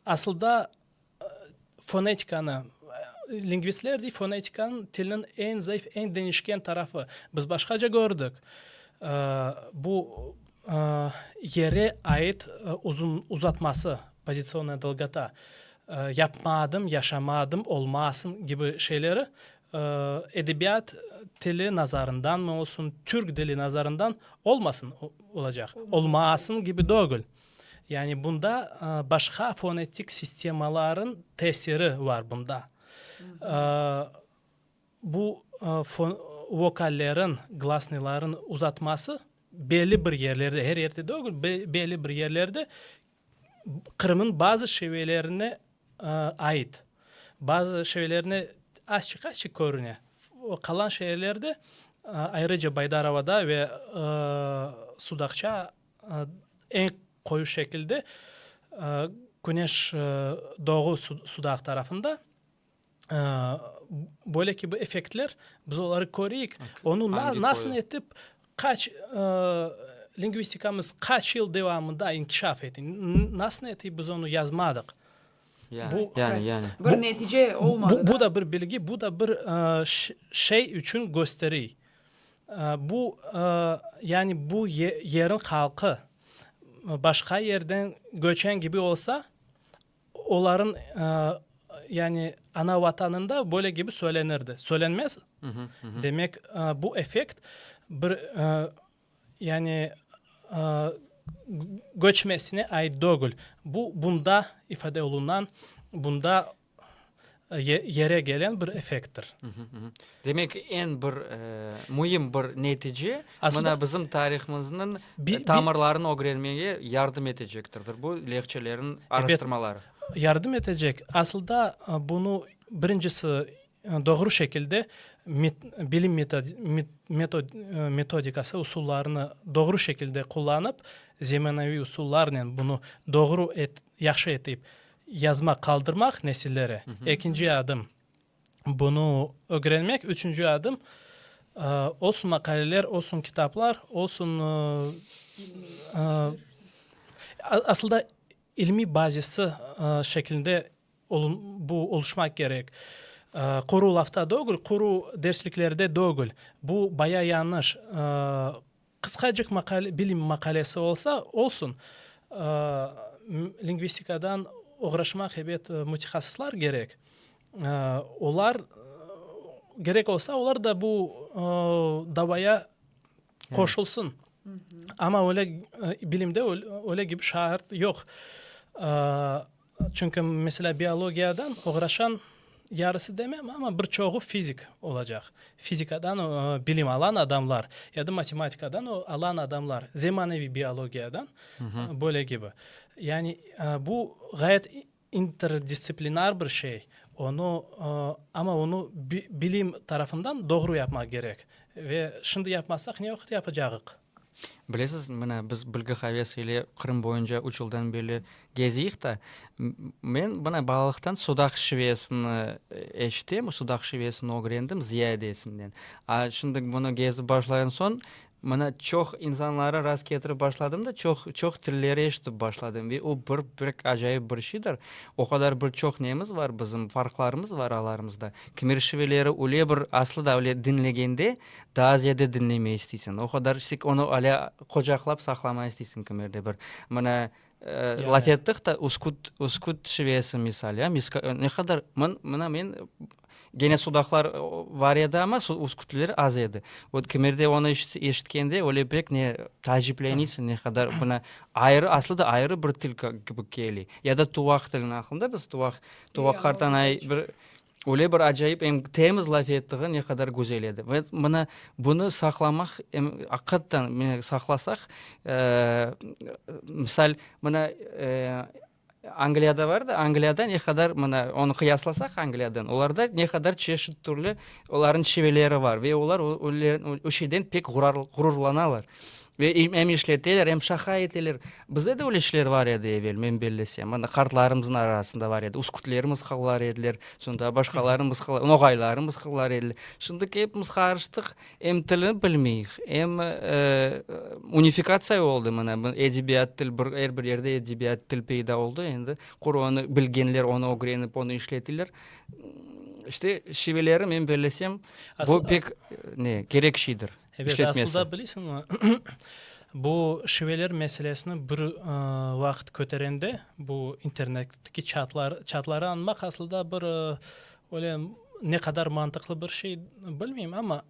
Asılda fonetikanı, lingvistler dey, fonetika tilniñ eñ zayıf, eñ deñişken tarafı. Biz başqaca kördik, bu yere ait uzatması, pozitsionnaya dolgota, yapma adım, yaşama adım, olmasın kibi şeyleri edebiyat tili nazarındanmı olsun, Türk dili nazarından olmasın olacaq, olmaasın kibi dögül. Yani bunda başqa fonetik sistemaların tesiri var bunda. Bu vokallerin, glasnıların uzatması belli bir yerlerde, her yerde degil, belli bir yerlerde Qırım'ın bazı şevelerine ait. Bazı şevelerine azçıq-azçıq körüne. Qalan şeerlerde, ayrıca Baydarovada ve Sudaqça Eñ qoyu şekilde küneş doğu sudaq tarafında. Böyle ki bu effektler biz oları köreyik. Onu nasıl etip qaç lingvistikamız qaç yıl devamında inkişaf etti. Nasıl etip biz onu yazmadıq. Bu da bir bilgi, bu da bir şey içün gösteriy. Bu, yani bu yerniñ halqı başqa yerden göçen kibi olsa, olarnıñ, yani ana Vatanında böyle kibi söylenirdi. Söylenmez. Demek, bu effekt bir, yani göçmesine ait degil. Bu bunda ifade olunan, bunda yere gelen bir effekttir. Demek, eñ bir müim bir netice, mına bizim tarihımıznıñ tamırlarını ögrenmege yardım etecektirdir bu lehçelerin araştırmaları. Yardım etecek. Asılda bunı birincisi doğru şekilde bilim metodikası, usullarını doğru şekilde qullanıp, zemanaiy usullarnen bunı doğru, yahşı etip Yazma qaldırmaq nesillere, ekinci adım, bunı ögrenmek, üçünci adım, olsun maqaleler, olsun kitaplar, olsun, asılda ilmiy bazisi şeklinde bu oluşmaq kerek. Quru lafta degil, quru dersliklerde degil, bu bayağı yanlış. Qısqacıq maqale, bilim maqalesi olsa, olsun, lingvistikadan oğraşmaq ebet mütehassıslar gerek. Olar, gerek olsa, olar da bu davaya qoşulsın. Amma öyle, bilimde öyle kibi şart yoq. Çünki, meselâ, biologiyadan oğraşan, yarısı demem, amma bir çoğu fizik olacaq. Fizikadan bilim alan adamlar ya da matematikadan alan adamlar, zemaneviy biologiyadan böyle kibi. Yani bu ğayet interdistsiplinar bir şey, onı, amma onı bilim tarafından doğru yapmaq kerek. Ve şimdi yapmasaq, ne vaqıt yapacağıq? Bilesiz, mına, biz Bilgi havesi ile Qırım boyunca üç yıldan beri geziyik ta, men mına balalıqtan Sudaq şivesini eşitem, Sudaq şivesini ögrendim ziyadesinden. A şimdi bunı gezip başlayan soñ, mına çoq insanları rast ketirip başladım da, çoq, çoq tilleri eşitip başladım. Ve o bir, bir acayip bir şeydir. O qadar bir çoq nemiz bar bizim, farqlarımız bar aralarımızda. Kimer şiveleri öyle bir aslı da öyle diñlegende, Tazya da diñlemey isteysiñ, o qadar istik, onı alâ qucaqlap saqlamay isteysiñ kimerde bir. Mına, laf ettik da, uskut, uskut şivesi misal, ya, miska, ne qadar, mın, mına men, gene sudaqlar var edi, amma uskutler az edi. Vot kimerde onı eşitkende, öyle pek ne taacipleniysıñ, ne qadar bunı ayrı, aslı da ayrı bir til kibı keli. Ya da tuvaq tilini, aqlıñda biz tuvaq, tuvaq qartanay bir. Öyle bir acayip, em temiz laf ettiği ne qadar güzel edi. Ve mına bunı saqlamaq, em aqıqattan mine saqlasaq, misal, mına Angliyada var da, Angliyada ne qadar mına onı qıyaslasaq Angliyadan, olarda ne qadar çeşit türlü onların şiveleri var ve olar o şeyden pek ğururlanalar. Ve em işleteler, em şaqa eteler. Bizde de öyle kişiler bar edi evel, men bellesem. Ana, qartlarımıznıñ arasında bar edi. Üskütler mısqallar ediler, soñda başqaları mısqal, noğayları mısqallar ediler. Şimdi kepimiz qarıştıq, em tilni bilmeyik, em, unifikatsiya oldı mına, edebiyat, til, bir, er bir yerde edebiyat, til peyda oldı, endi qur onı bilgenler onı ögrenip, onı işletirler. İşte, şiveleri men bellesem, bu pek, ne, kerek şeydir. Evet, aslında bilesiñmi, bu şiveler meselesini bir vaqıt köterende, bu internetdeki çatları añmaq aslında bir öyle ne qadar mantıqlı bir şey, bilmeyim, amma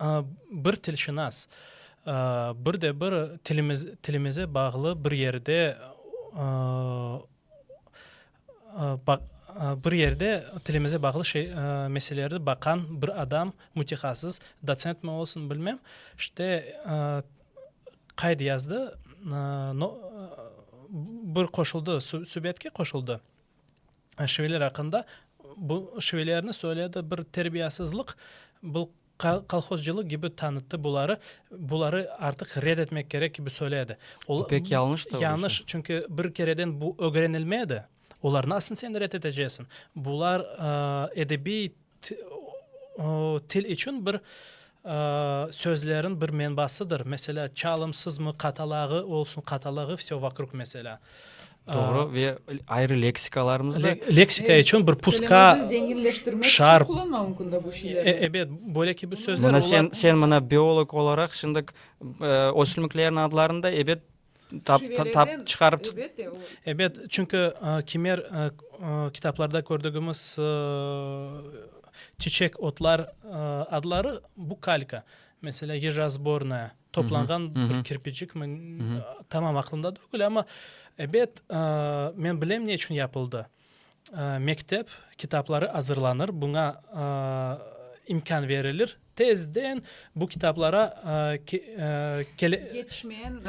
bir tilşinas, bir de bir tilimize bağlı bir yerde Bir yerde tilimize bağlı meselelerdi baqan bir adam, mütehasıs, dotsentmi olsun, bilmem, işte, qayd yazdı, bir qoşuldı, subetke qoşuldı, şiveler aqqında, bu şivelerni söyledi, bir terbiyasızlıq, bu, kolhozcılıq kibi tanıttı, buları, buları artıq red etmek kerek kibi söyle edi. Bu pek yalnış tavır. Yanlış, çünki bir kereden bu ögrenilme edi. Olar nasın sen red etecesiñ? Bular edebiy til içün bir sözlerin bir menbasıdır. Meselâ, çalımsızmı, qatalağı olsun, qatalağı vse vakrug meselâ. Doğru ve ayrı leksikalarımız da. Leksika içün bir puska şarp. Ebet, böyle ki bu sözler. Mına sen, sen mına biolog olaraq şimdi ösümliklerin adlarını da ebet tap, tap çıkarıp. Ebet, çünkü kimer kitaplarda kördüğümüz çiçek, otlar adları bu kalka. Mesela, yejazbornaya. toplanğan bir kirpicikmi, tamam aqlımda degil, amma ebet, men bilem ne içün yapıldı. Mektep kitapları azırlanır, buña imkân berilir, tezden bu kitaplara Yetişmeyen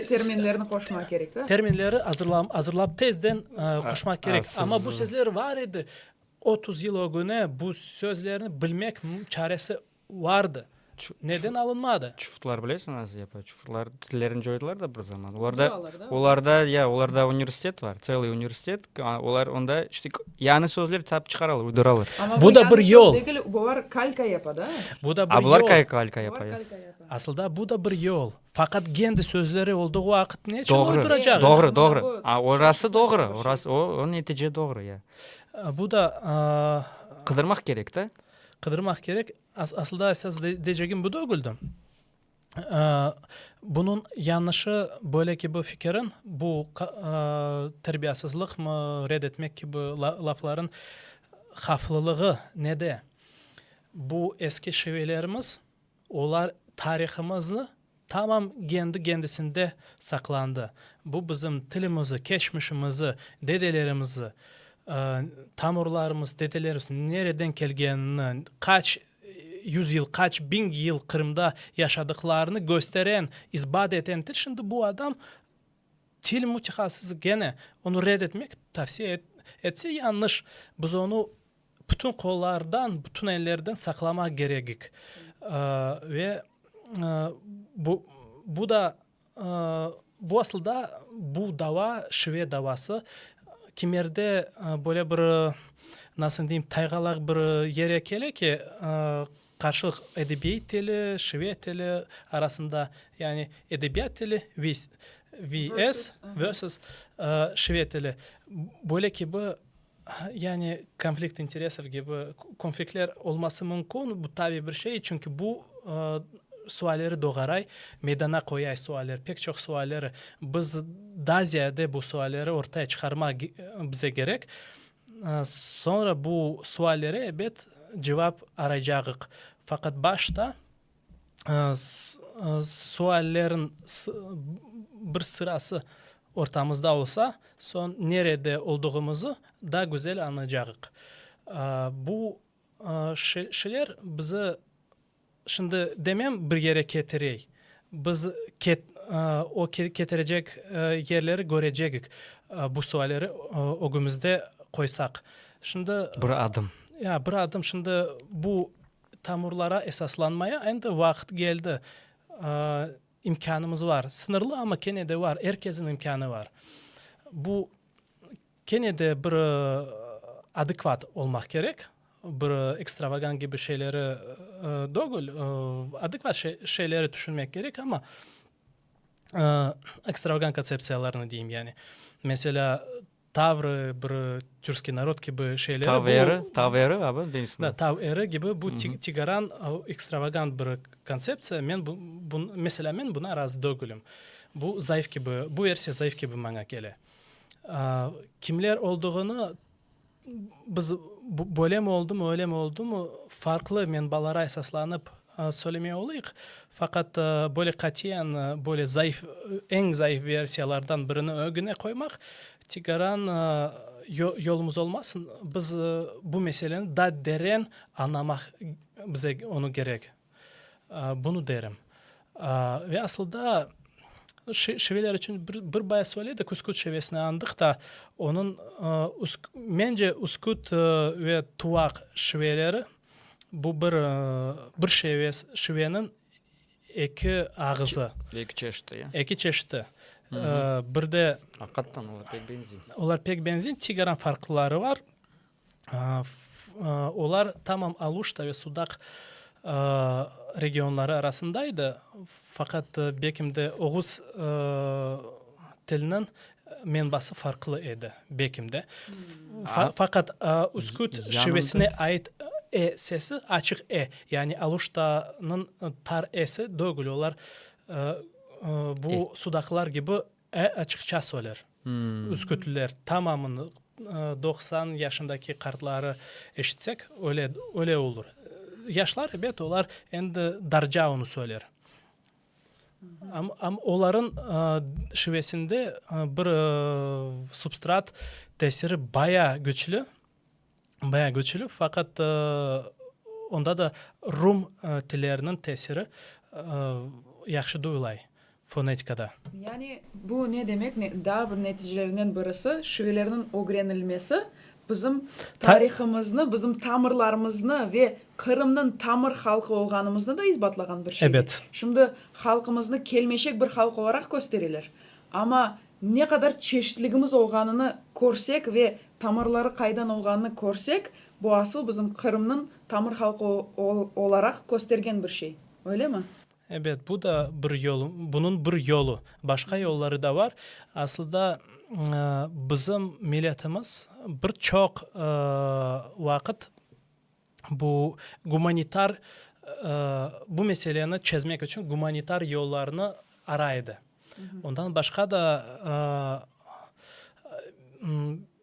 terminlerini qoşmaq kerek, da? Terminleri azırlap, tezden qoşmaq kerek. Amma bu sözler bar edi, otuz yıl ögüne bu sözlerni bilmek çaresi Vardı. Neden alınmadı? Çufutlar bilesiñiz, yapa, çufutlar tillerini coydılar da bir zaman. Olarda, olarda, ya, olarda universitet var, tseliy universitet, olar onda işte yañı sözler tap çıqaralar, uyduralar. Amma bu yañı söz degil, bular kalka yapa da. Bu da bir yol. A bular kay kalka yapa, ya. Asılda bu da bir yol. Faqat kendi sözleri oldığı vaqıt neçün uyduracaq? Doğru, doğru, doğru. A, orası doğru, orası, o, o netice doğru, ya. Bu da, aa. Qıdırmaq kerek da. Qıdırmaq kerek. Asılda esas deycegim bu degildi. Bunıñ yañışı, böyle kibi fikirniñ, bu terbiyasızlıqmı, red etmek kibi laflarnıñ havflılığı nede? Bu eski şivelerimiz. Olar tarihımıznı tamam kendi-kendisinde saqlandı. Bu bizim tilimizi, keçmişimizi, dedelerimizi, tamurlarımız, dedelerimiz nereden kelgenini, qaç yüz yıl, qaç biñ yıl Qırımda yaşadıqlarını kösteren, isbat eten til. Şimdi bu adam til mütehassısı gene onı red etmek tavsiye etse, yañış. Biz onı Bütün qollardan, bütün ellerden saqlamaq kerekik. Ve bu da, bu asılda bu dava, şive davası, kimerde böyle bir, nasıl deyim, taygalaq bir yere kele ki, qarşılıq edebiyet tili, şive tili arasında, yani edebiyat tili VS, versus, şive tili. Böyle kibi Yani konflikt interesov kibi konfliktler olması mümkün, bu tabiy bir şey, çünki bu sualleri doğaray, meydana qoyay sualleri, pek çoq sualleri. Biz daa ziyade bu sualleri ortaya çıqarmaq bize kerek, soñra bu suallere, ebet, cevap araycağıq. Faqat başta suallerin bir sırası ortamızda olsa, soñ nerede olduğımızı daa güzel añlaycağıq. Bu şeyler bizi, şimdi demem bir yere ketirey, biz o ketirecek yerleri körecegik, bu sualleri ögümizde qoysaq. Şimdi. Bir adım. Ya, bir adım. Şimdi bu Tamurlara esaslanmaya endi vaqıt keldi. İmkânımız var. Sıñırlı, amma kene de var. Er kesniñ imkânı var. Bu kene de bir adekvat olmaq kerek, bir ekstravagant kibi şeyleri degil, adekvat şeyleri tüşünmek kerek, amma ekstravagant kontseptsiyalarnı deyim yani. Meselâ, Tavrı, bir türskiy narod kibi şeyleri. Tav eri, tav eri abi deysmi? Da, tav eri kibi bu tigaran, ekstravagant bir kontseptsiya. Men bu, mesela men buna razı degilim. Bu zayıf kibi, bu versiya zayıf kibi maña kele. Kimler olduğını biz, böylemi oldumu, öylemi oldumu, farqlı menbalara esaslanıp Söylemey olayıq, faqat böyle qatiyen, böyle zayıf, eñ zayıf versiyalardan birini ögüne qoymaq tigaran yolumız olmasın. Biz bu meseleni daa deren añlamaq, bize onı kerek, bunı derim. Ve asılda şiveler içün bir baya söyledik, üsküt şivesini añdıq da, onıñ, mence, üsküt ve tuvaq şiveleri Bu bir, bir şeves, şiveniñ eki ağızı. Eki çeşiti, ya? Eki çeşiti. Bir de. Aqıqattan olar pek beñzey. Olar pek beñzey, tigaran farqları bar. Olar tamam Aluşta ve Sudaq regionları arasında edi, faqat bekimde oğuz tiliniñ Menbası farqlı edi, bekim de. Faqat üsküt şivesine ait e sesi, açıq e, yani Aluştanıñ tar esi dögül, olar bu sudaqlar kibi e açıqça söyler, üskütlüler. Tamamını doqsan yaşındaki qartları eşitsek, öyle olur. Yaşlar, ebet, olar endi darca onı söyler. Am olarıñ şivesinde bir substrat tesiri bayağı güçlü, bayağı güçlü, faqat onda da rum tilleriniñ tesiri yahşı duyulay fonetikada. Yani bu ne demek, daa bir neticelerinen birisi, şivelerniñ ögrenilmesi Bizim tarihımıznı, bizim tamırlarımıznı ve Qırımnıñ tamır halqı olğanımıznı da isbatlağan bir şey. Ebet. Şimdi halqımıznı kelmeşek bir halq olaraq köstereler. Amma ne qadar çeşitligimiz olğanını körsek ve tamırları qaydan olğanını körsek, bu asıl bizim Qırımnıñ tamır halqı olaraq köstergen bir şey. Öylemi? Ebet, bu da bir yol, bunıñ bir yolu. Başqa yolları da bar. Asılda, bizim milletimiz bir çoq vaqıt bu gumanitar, bu meseleni çezmek içün gumanitar yollarnı ara edi. Ondan başqa da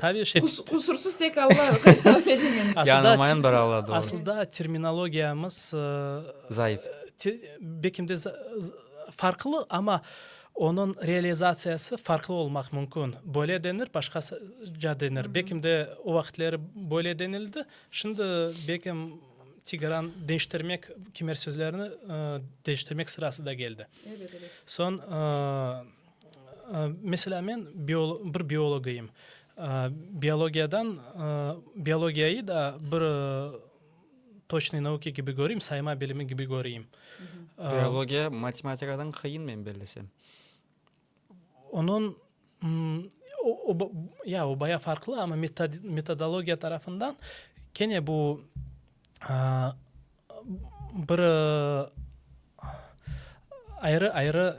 Tabii şey, Qusursız tek Alla Gaysalâ degen. Yanılmayın bir Alla, doğru. Asılda terminologiyamız, Zayıf. bekim de farqlı, amma onıñ realizatsiyası farqlı olmaq mümkün. Böyle denir, başqaca denir. Bekim de o vaqıtları böyle denildi, şimdi bekim tigradan deñiştirmek, kimer sözlerni deñiştirmek sırası da keldi. Soñ, Meselâ, men bir biolog eyim. Biologiyadan, biologiyayı da bir toçnıy nauka kibi köreyim, sayma bilimi kibi köreyim. Biologiya matematikadan qıyın, men bilsem. Onıñ, ya, o bayağı farqlı, amma metodologiya tarafından kene bu bir ayrı-ayrı,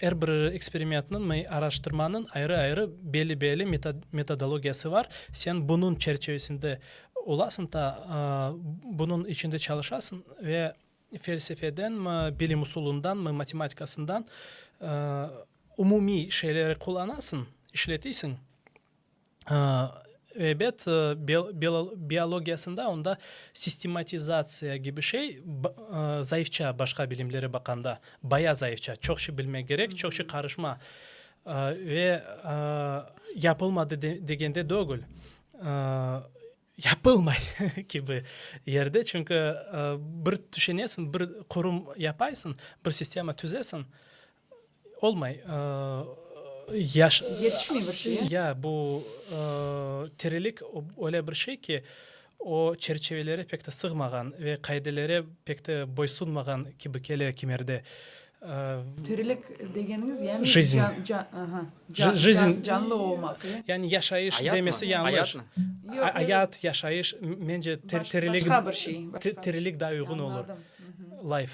er bir eksperimentniñ, araştırmanıñ ayrı-ayrı belli-belli metodologiyası bar. Sen bunıñ çerçivesinde olasıñ da, bunıñ içinde çalışasıñ ve felsefedenmi, bilim usulundanmı, matematikasından umumiy şeyleri qullanasıñ, işletesiñ. Ebet, biologiyasında onda sistematizatsiya kibi şey zayıfça başqa bilimlere baqanda, bayağı zayıfça. Çoq şey bilmek kerek, çoq şey qarışma. Ve yapılmadı degen de degil, yapılmay kibi yerde. Çünki bir tüşenesiñ, bir qurum yapaysıñ, bir sistema tüzesiñ, Olmay. Yaş. Yetişmey bir şeye. Ya, bu tirilik öyle bir şey ki, o çerçevelere pek de sığmağan ve qaidelere pek de boysunmağan kibi kele kimerde. Tirilik degeniñiz, yani. Jizni. Aha. Jizni. Canlı olmaq, ya. Yani yaşayış demesi yañlış. Ayatmı? Ayatmı? Ayat, yaşayış, mence tirilik. Başqa bir şey. Tirilik daa uyğun olur. Añladım. Life.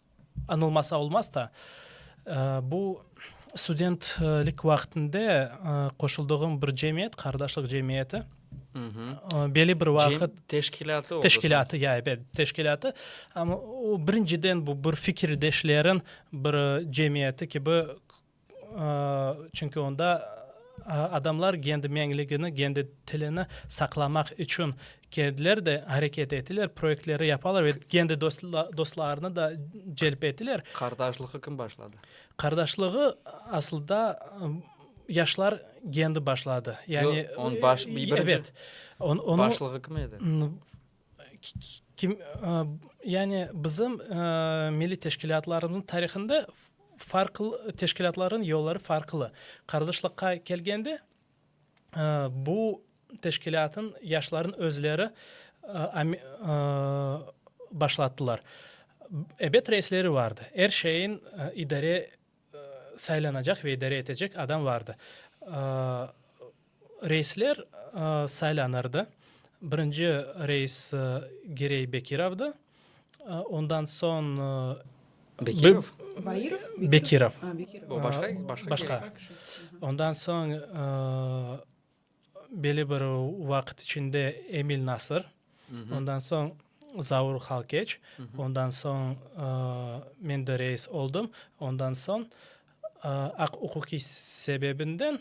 Añılmasa olmaz da, bu studentlik vaqtında qoşuldığım bir cemiyet, qardaşlıq cemiyeti. Belli bir vaqıt. Teşkilâtı olsa. Teşkilâtı, ya, ebet, teşkilâtı. Amma o, birinciden, bu bir fikirdeşleriñ bir cemiyeti kibi. Çünki onda adamlar kendi meñligini, kendi tilini saqlamaq içün kendileri de areket etiler, proyektleri yapalar ve kendi dostlarını da celp etiler. Qardaşlığı kim başladı? Qardaşlığı asılda yaşlar kendi başladı. Yoq, başlığı kim edi? Yani bizim milliy teşkilâtlarımıznıñ tarihında farqlı teşkilâtlarnıñ yolları farqlı. Qardaşlıqqa kelgende, bu teşkilâtnıñ yaşlarınıñ özleri başlattılar. Ebet reisleri vardı, er şeyin idare saylanacaq ve idare etecek adam vardı. Reisler saylanırdı. Birinci reis Girey Bekirovdı, ondan soñ. Bekirov? Bekirov. O başqa? Başqa. Ondan soñ. Belli bir vaqıt içinde Emil Nasır, ondan soñ Zaur Halkeç, ondan soñ men de reis oldım. Ondan soñ aq-uquqiy sebebinden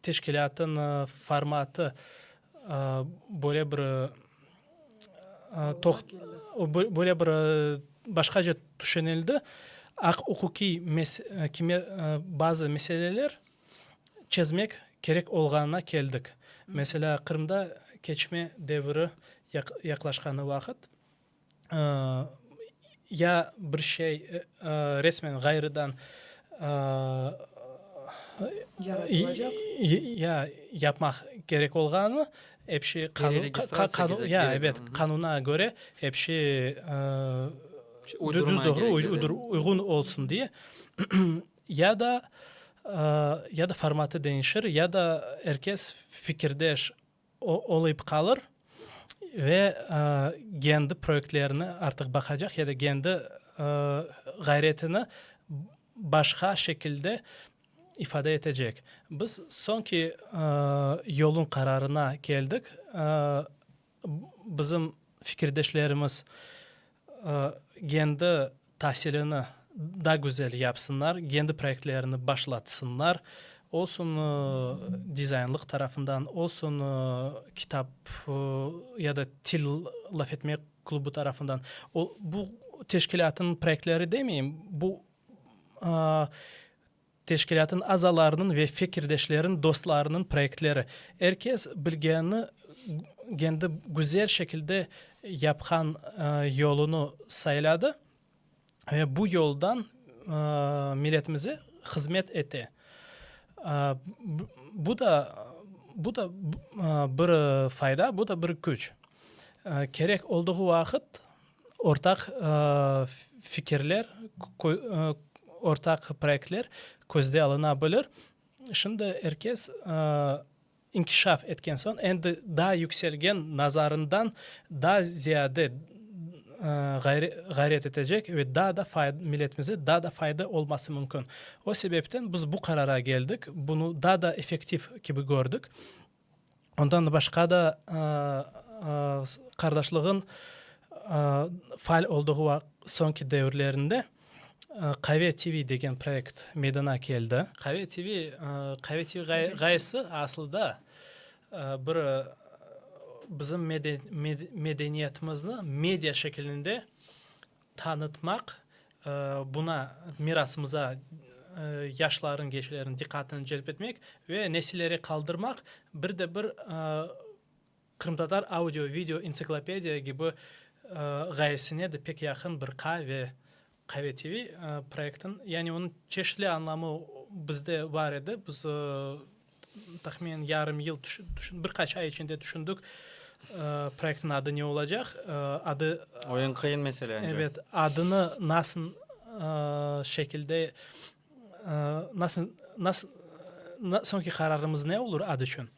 teşkilâtını formatı böyle bir böyle bir başqaca tüşenildi. Aq-uquqiy bazı meseleler çezmek kerek olğanına keldik. Meselâ, Qırımda keçme deviri yaqlaşqanı vaqıt, ya bir şey resmen ğayrıdan yapmaq kerek olğanı, ep şey qanuna köre ep şey düz-doğru, uyğun olsun diye, Ya da, ya da formatı deñişir, ya da er kes fikirdeş olıp qalır ve kendi proyektlerini artıq baqacaq ya da kendi ğayretini başqa şekilde ifade etecek. Biz soñki yolun qararına keldik. Bizim fikirdeşlerimiz kendi tasilini daa güzel yapsınlar, kendi proyektlerini başlatsınlar, olsun dizaynlıq tarafından, olsun kitap ya da til laf etmek klubı tarafından. Bu teşkilâtnıñ proyektleri demeyim, bu Teşkilâtın azalarınıñ ve fekirdeşlerin dostlarınıñ proyektleri, er kes bilgeni gendi güzel şekilde yapqan yolunı sayladı ve bu yoldan milletimize hızmet ete. Bu da bu da bir fayda, bu da bir küç. Kerek olduğu vaqıt Ortaq fikirler, ortaq proyektler közde alına bilir. Şimdi er kes inkişaf etken soñ, endi daa yükselgen nazarından daa ziyade ğayret etecek ve daa da milletimize daa da fayda olması mümkün. O sebepten biz bu qarara keldik, bunı daa da effektiv kibi kördik. Ondan başqa da qardaşlığın faal olduğu soñki devirlerinde Qave TV degen proyekt meydana keldi. Qave TV, Qave TV ğayesi asılda bir bizim medeniyetimizni media şekilinde tanıtmaq, buna, mirasımıza yaşlarnıñ, gençlerniñ diqqatını celp etmek ve nesillere qaldırmaq, bir de bir qırımtatar audio-video entsiklopediya kibi ğayesine de pek yaqın bir qa ve Qave TV proyektiniñ, yani onıñ çeşitli anlamı bizde bar edi, biz Tahminen yarım yıl, bir qaç ay içinde tüşündük, proyektniñ adı ne olacaq. Adı. O eñ qıyın mesele. Evet, adını nasıl şekilde, nasıl, nasıl, soñki qararımız ne olur ad içün.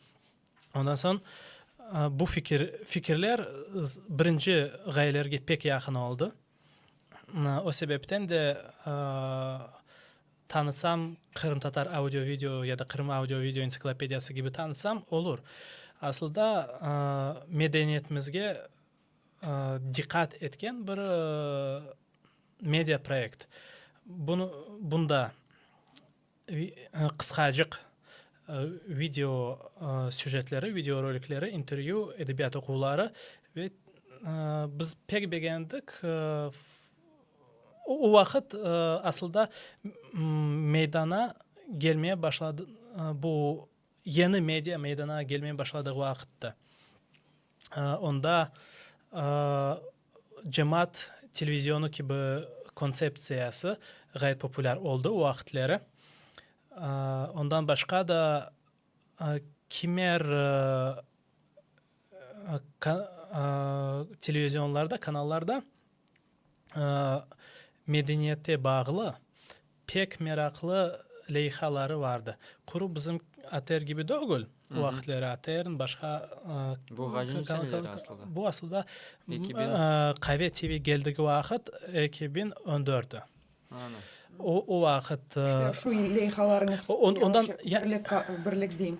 Ondan soñ bu fikir, fikirler birinci ğayelerge pek yaqın oldı. O sebepten de. Tanıtsam, qırımtatar audio-video ya da Qırım audio-video entsiklopediyası kibi tanıtsam, olur. Asılda, medeniyetimizge diqqat etken bir media proyekt. Bunı, bunda qısqacıq video süjetleri, video rolikleri, intervyu, edebiyat oquvları ve biz pek begendik O vaqıt asılda meydana kelmeye başladı, bu yeni media meydana kelmeye başladığı vaqıttı. Onda cemaat televizyonu kibi kontseptsiyası ğayet populâr oldı o vaqıtları. Ondan başqa da kimer televizyonlarda, kanallarda. medeniyette bağlı pek meraqlı leyhaları vardı. Qurup bizim ATR kibi degil, o vaqıtları ATRnıñ başqa, bu asılda KV TV keldigi vaqıt ekibin öndördi. O vaqıt. İşte şu leyhalarıñız, birlik deyim,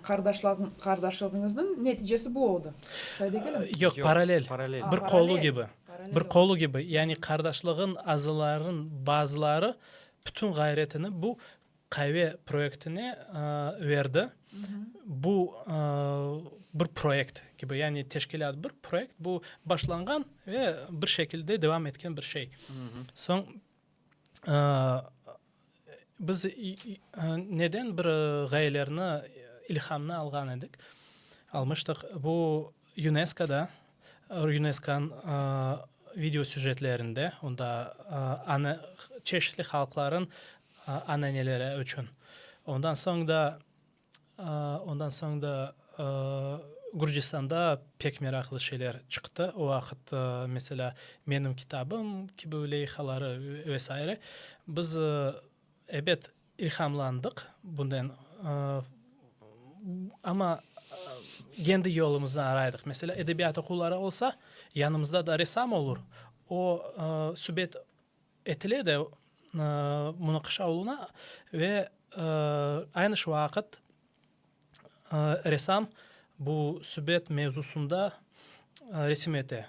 qardaşlığıñıznıñ neticesi bu oldı, şay degilim? Yoq, paralel, bir qolu kibi, bir qolu kibi. Yani qardaşlığınıñ azılarınıñ bazıları bütün ğayretini bu Qaive proyektine verdi. Bu bir proyekt kibi, yani teşkilât bir proyekt, bu başlanğan ve bir şekilde devam etken bir şey. Soñ biz neden bir ğayelerni, ilhamnı alğan edik, almıştıq, bu UNESKOda, Rüneskan video süjetlerinde onda ana çeşitli halqların ananeleri içün, ondan soñ da ondan soñ da Gürcistanda pek meraqlı şeyler çıqtı. O vaqıt meselâ Menim kitabım kibi leyhaları ve saire. Biz, ebet, İlhamlandıq bunden, amma kendi yolumıznı araydıq. Meselâ, edebiyat oquvları olsa, yanımızda da ressam olur, o, subet etile de munaqaşa oluna ve aynı şu vaqıt ressam bu subet mevzusında resim ete.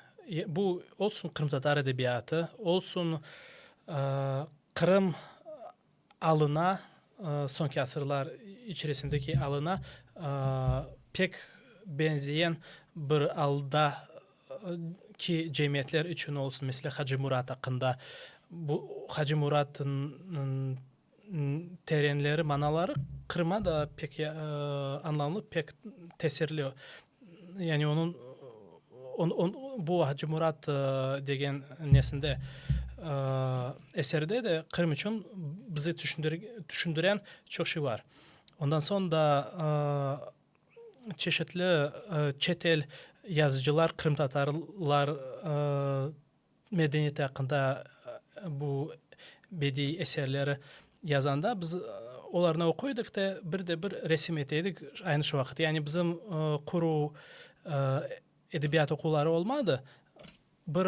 Bu, olsun qırımtatar edebiyatı, olsun Qırım alına, soñki asırlar içerisindeki alına pek benzeyen bir alda ki cemiyetler içün olsun, mesela Hacı Murat aqqında, bu Hacı Muratnıñ terenleri, manaları Qırım'a da pek añlamlı, pek tesirli Yani onıñ bu Hacımurat degen nesinde, eserde de Qırım içün bize tüşündüren çoq şey bar. Ondan soñ da çeşitli çet el yazıcılar qırımtatarlar Medeniyet aqqında bu bediiy eserleri yazanda biz olarnı oquy edik de, bir de bir resim ete edik aynı şu vaqıt. Yani bizim quruv edebiyat oquvları olmadı. Bir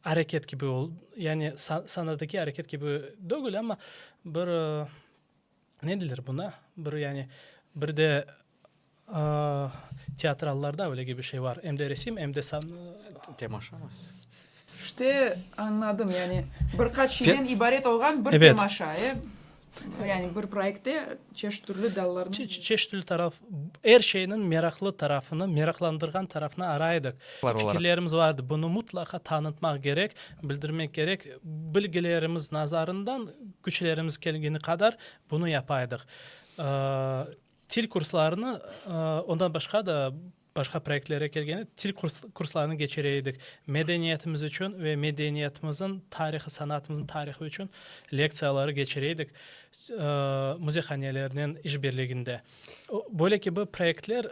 areket kibi oldı, yani sanadaki areket kibi degil, amma bir Ne deyler buna, bir yani, bir de teatrallarda öyle gibi şey var, em de resim, em de san. Temaşa mı? İşte añladım, yani bir qaç şeyden ibaret olğan bir temaşa, e? Yani bir proyektte çeşit türlü dallarnı. Çeşit türlü taraf, er şeyniñ meraqlı tarafını, meraqlandırğan tarafını araydık. Fikirlerimiz vardı, bunı mutlaqa tanıtmaq kerek, Bildirmek kerek, bilgilerimiz nazarından küçlerimiz kelgeni qadar bunı yapa edik. Til kurslarını, ondan başqa da başqa proyektlere kelgende til kurslarını keçire edik. Medeniyetimiz içün ve medeniyetimizin tarihı, sanatımızın tarihı içün lektsiyaları keçire edik müzeyhanelernen işbirliginde. Böyle kibi proyektler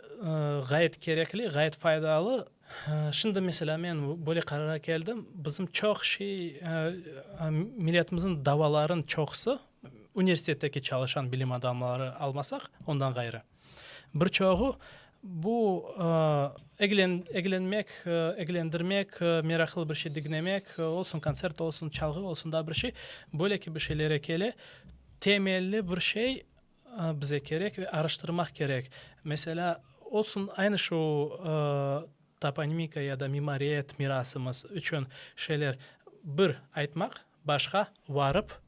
ğayet kerekli, ğayet faydalı. Şimdi, meselâ, men böyle qarara keldim, bizim çoq şey, milletimizin davaların çoqusı, universitetteki çalışan bilim adamları almasaq, ondan ğayrı, bir çoğu bu eglenmek, eglendirmek, meraqlı bir şey diñlemek, olsun kontsert, olsun çalğı, olsun daa bir şey, böyle kibi şeylere kele, temelli bir şey, Bize kerek ve araştırmaq kerek. Meselâ, olsun aynı şu toponimika ya da mimariyet mirasımız içün şeyler, bir, aytmaq, başqa, varıp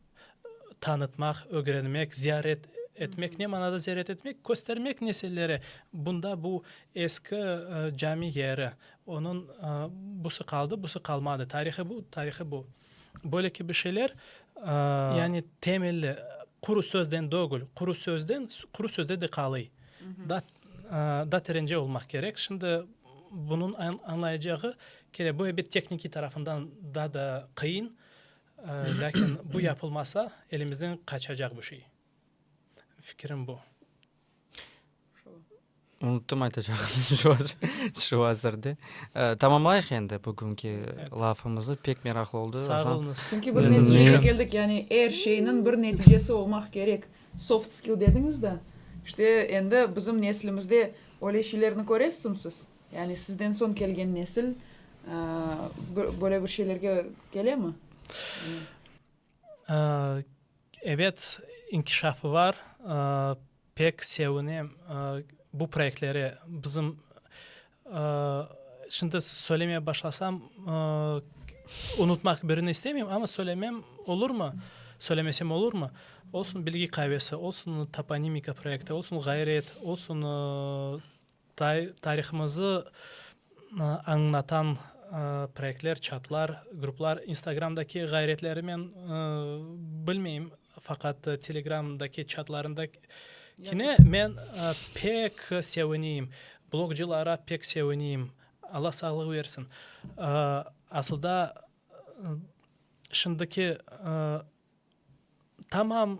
tanıtmaq, ögrenmek, ziyaret etmek. Ne manada ziyaret etmek? Köstermek nesillere, bunda bu eski cami yeri, onıñ busı qaldı, busı qalmadı, tarihı bu, tarihı bu. Böyle kibi şeyler, yani temelli quru sözden dögül, quru sözden, quru sözde de qalıy. Da, da terence olmaq kerek. Şimdi bunıñ añlayacağı, kere böyle bir tehnikiy tarafından da da qıyın, lâkin bu yapılmasa, elimizden qaçacaq bu şey. Fikirim bu. Unuttum aytacağımnı şu azırda. Tamamlayıq endi bugünki lafımızı. Pek meraqlı oldı. Sağ olunız. Çünki bir neticeye keldik. Yani er şeyniñ bir neticesi olmaq kerek. Soft skill dediñiz da, işte endi bizim neslimizde öyle şeylerni köresiñ siz. Yani sizden soñ kelgen nesil böyle bir şeylerge kelemi? Ebet, inkişafı var, pek sevinem bu proyektleri. Bizim, şimdi söylemeye başlasam, unutmaq birini istemeyim, amma söylemem olurmı? Söylemesem olurmı? Olsun, bilgi qavesi, olsun, toponimika proyekti, olsun, ğayret, olsun, Tarihımızı añlatan proyektler, çatlar, gruplar, instagramdaki ğayretlerimen bilmeyim, faqat telegramdaki çatlarında kine men pek sevineyim, blogcılara pek sevineyim, Alla sağlıq bersin. Asılda şimdiki Tamam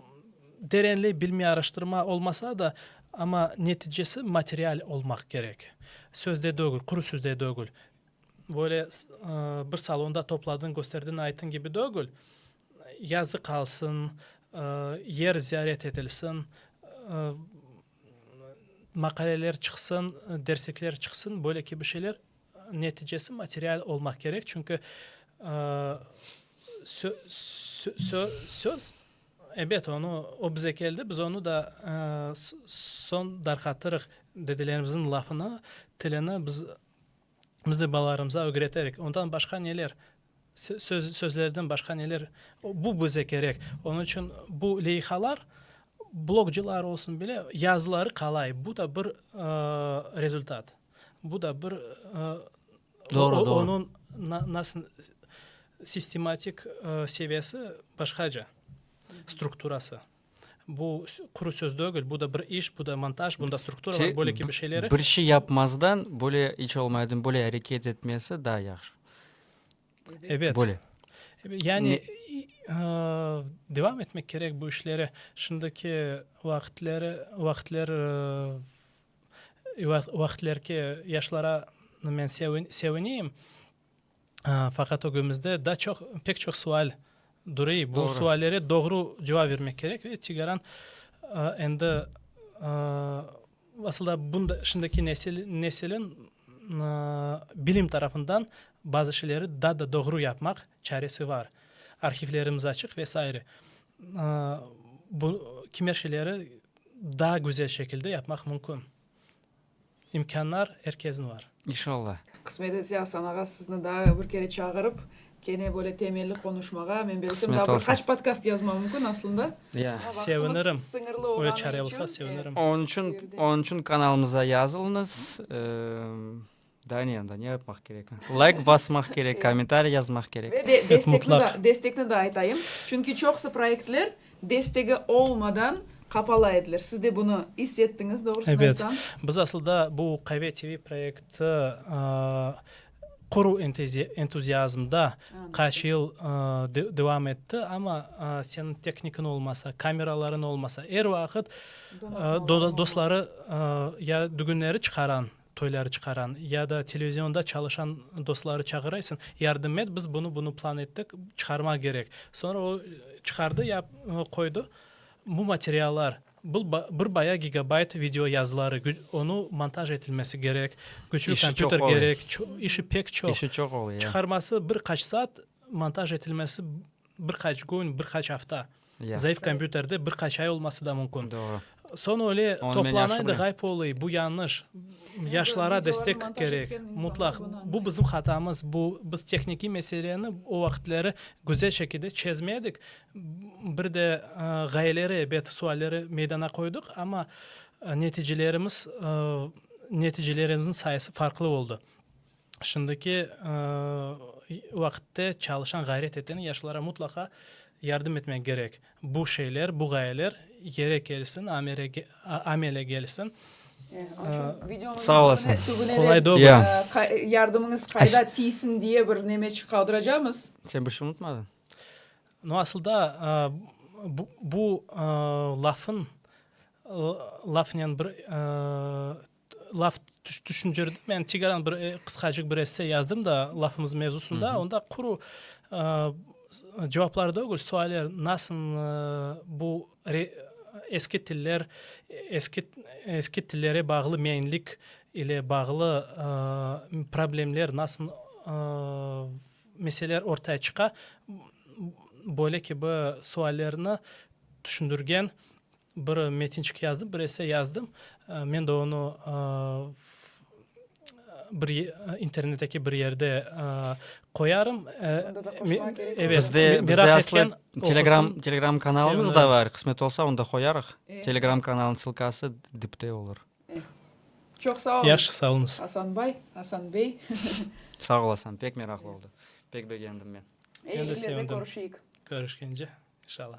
terenli bilmi araştırma olmasa da, amma neticesi material olmaq kerek. Sözde degil, quru sözde degil. Böyle bir salonda topladın, kösterdin, aytın kibi degil. Yazı qalsın, yer ziyaret etilsin, maqaleler çıqsın, derslikler çıqsın, böyle kibi şeyler. Neticesi material olmaq kerek, çünki söz, ebet, onı, o bize keldi, biz onı da soñ darqatırıq, dedelerimizniñ lafını, tilini biz, biz de balalarımıza ögreterik. Ondan başqa neler, sözlerden başqa neler, bu bize kerek. Onıñ içün bu leyihalar, blogçılar olsun bile, yazıları qalay, bu da bir rezultat. Bu da bir onıñ nasıl sistematik seviyesi başqaca, strukturası. Bu quru söz degil, bu da bir iş, bu da montaj, bunda struktura var, böyle kibi şeyleri. Bir şey yapmazdan, böyle iş olmaydan, böyle areket etmesi daa yahşı. Evet. Böyle. Yani devam etmek kerek bu işleri. Şimdiki vaqıtları, vaqıtları Vaqtlerki yaşlara men sevineyim, faqat ögümizde daa çoq, pek çoq sual durey. Bu suallere doğru cevap bermek kerek ve Tigaran endi, asılda şimdiki nesilin bilim tarafından bazı şeyleri daa da doğru yapmaq çaresi var. Arhivlerimiz açıq ve sairə. Bu kimer şeyleri daa güzel şekilde yapmaq mümkün. İmkânlar er kesniñ var. İnşallah. Qısmet etse, Asan ağa, sizni daa bir kere çağırıp, kene böyle temelli qonuşmağa, men belsem, daa bir qaç podkast yazmam mümkün aslında. Ya. Sevinirim. Öyle çare olsa sevinirim. Onıñ içün, onıñ içün kanalımıza yazılıñız. Da ne, da ne yapmaq kerek? Layk basmaq kerek, kommentariy yazmaq kerek. Ve de destekni da, destekni da aytayım. Çünki çoqusı proyektler destegi olmadan qapala edilir. Siz de bunı is ettiñiz, doğrusını aytsam. Evet. Biz asılda bu QV TV proyekti quruv entuziazmda qaç yıl devam etti, amma seniñ tehnikıñ olmasa, kameralarıñ olmasa, er vaqıt dostları ya dügünleri çıqaran, toyları çıqaran ya da televizionda çalışan dostları çağıraysıñ, yardım et, biz bunı bunı plan ettik, çıqarmaq kerek. Soñra o çıqardı ya qoydı bu materiallar, bul bir bayağı gigabayt video yazıları, onı montaj etilmesi kerek, küçlü kompüter kerek, işi pek çoq, çıqarması bir qaç saat, montaj etilmesi bir qaç kün, bir qaç afta. Zayıf kompyuterde bir qaç ay olması da mümkün. Soñ öyle toplanay da ğayıp olay, bu yanlış. Yaşlara destek kerek, mutlaq. Bu bizim hatamız, bu biz tehnikiy meseleni o vaqıtları güzel şekilde çezmedik. Bir de ğayeleri ebet sualleri meydana qoydıq, amma neticelerimiz, neticelerimiz sayısı farqlı oldı. Şimdiki vaqıtte çalışan, ğayret eten yaşlılara mutlaqa yardım etmek kerek. Bu şeyler, bu ğayeler yere kelsin, amele kelsin. Sağ olasıñ. Qolay doğru. Ya. Yardımıñız qayda tiysin diye bir nemeçik qaldıracamız. Sen bir şey unutmadın? No, asılda bu lafın, lafnen bir Laf tüşüncerdim, yani tigaran bir qısqacıq bir esse yazdım da lafımız mevzusında, onda quru cevaplar degil, sualler, nasılnı bu eski tiller, eski tillere bağlı meinlik ile bağlı problemler nasıl meseleler ortaya çıqa, böyle kibi suallerni tüşündirgen Bir metinçik yazdım, bir esse yazdım. Men de onı bir internetteki bir yerde qoyarım. Onda da qoşmaq kerek olur. Bizde, bizde aslı telegram, telegram kanalımız da var. Qısmet olsa, onda qoyarıq. Telegram kanalınıñ sılkası dipte olur. Çoq sağ olun. Yaşı sağ olunız. Asanbay, Asan bey. Sağ olasan, pek meraqlı oldı. Pek begendim men. Eyi işlerde körüşeyik. Körüşkence, inşallah.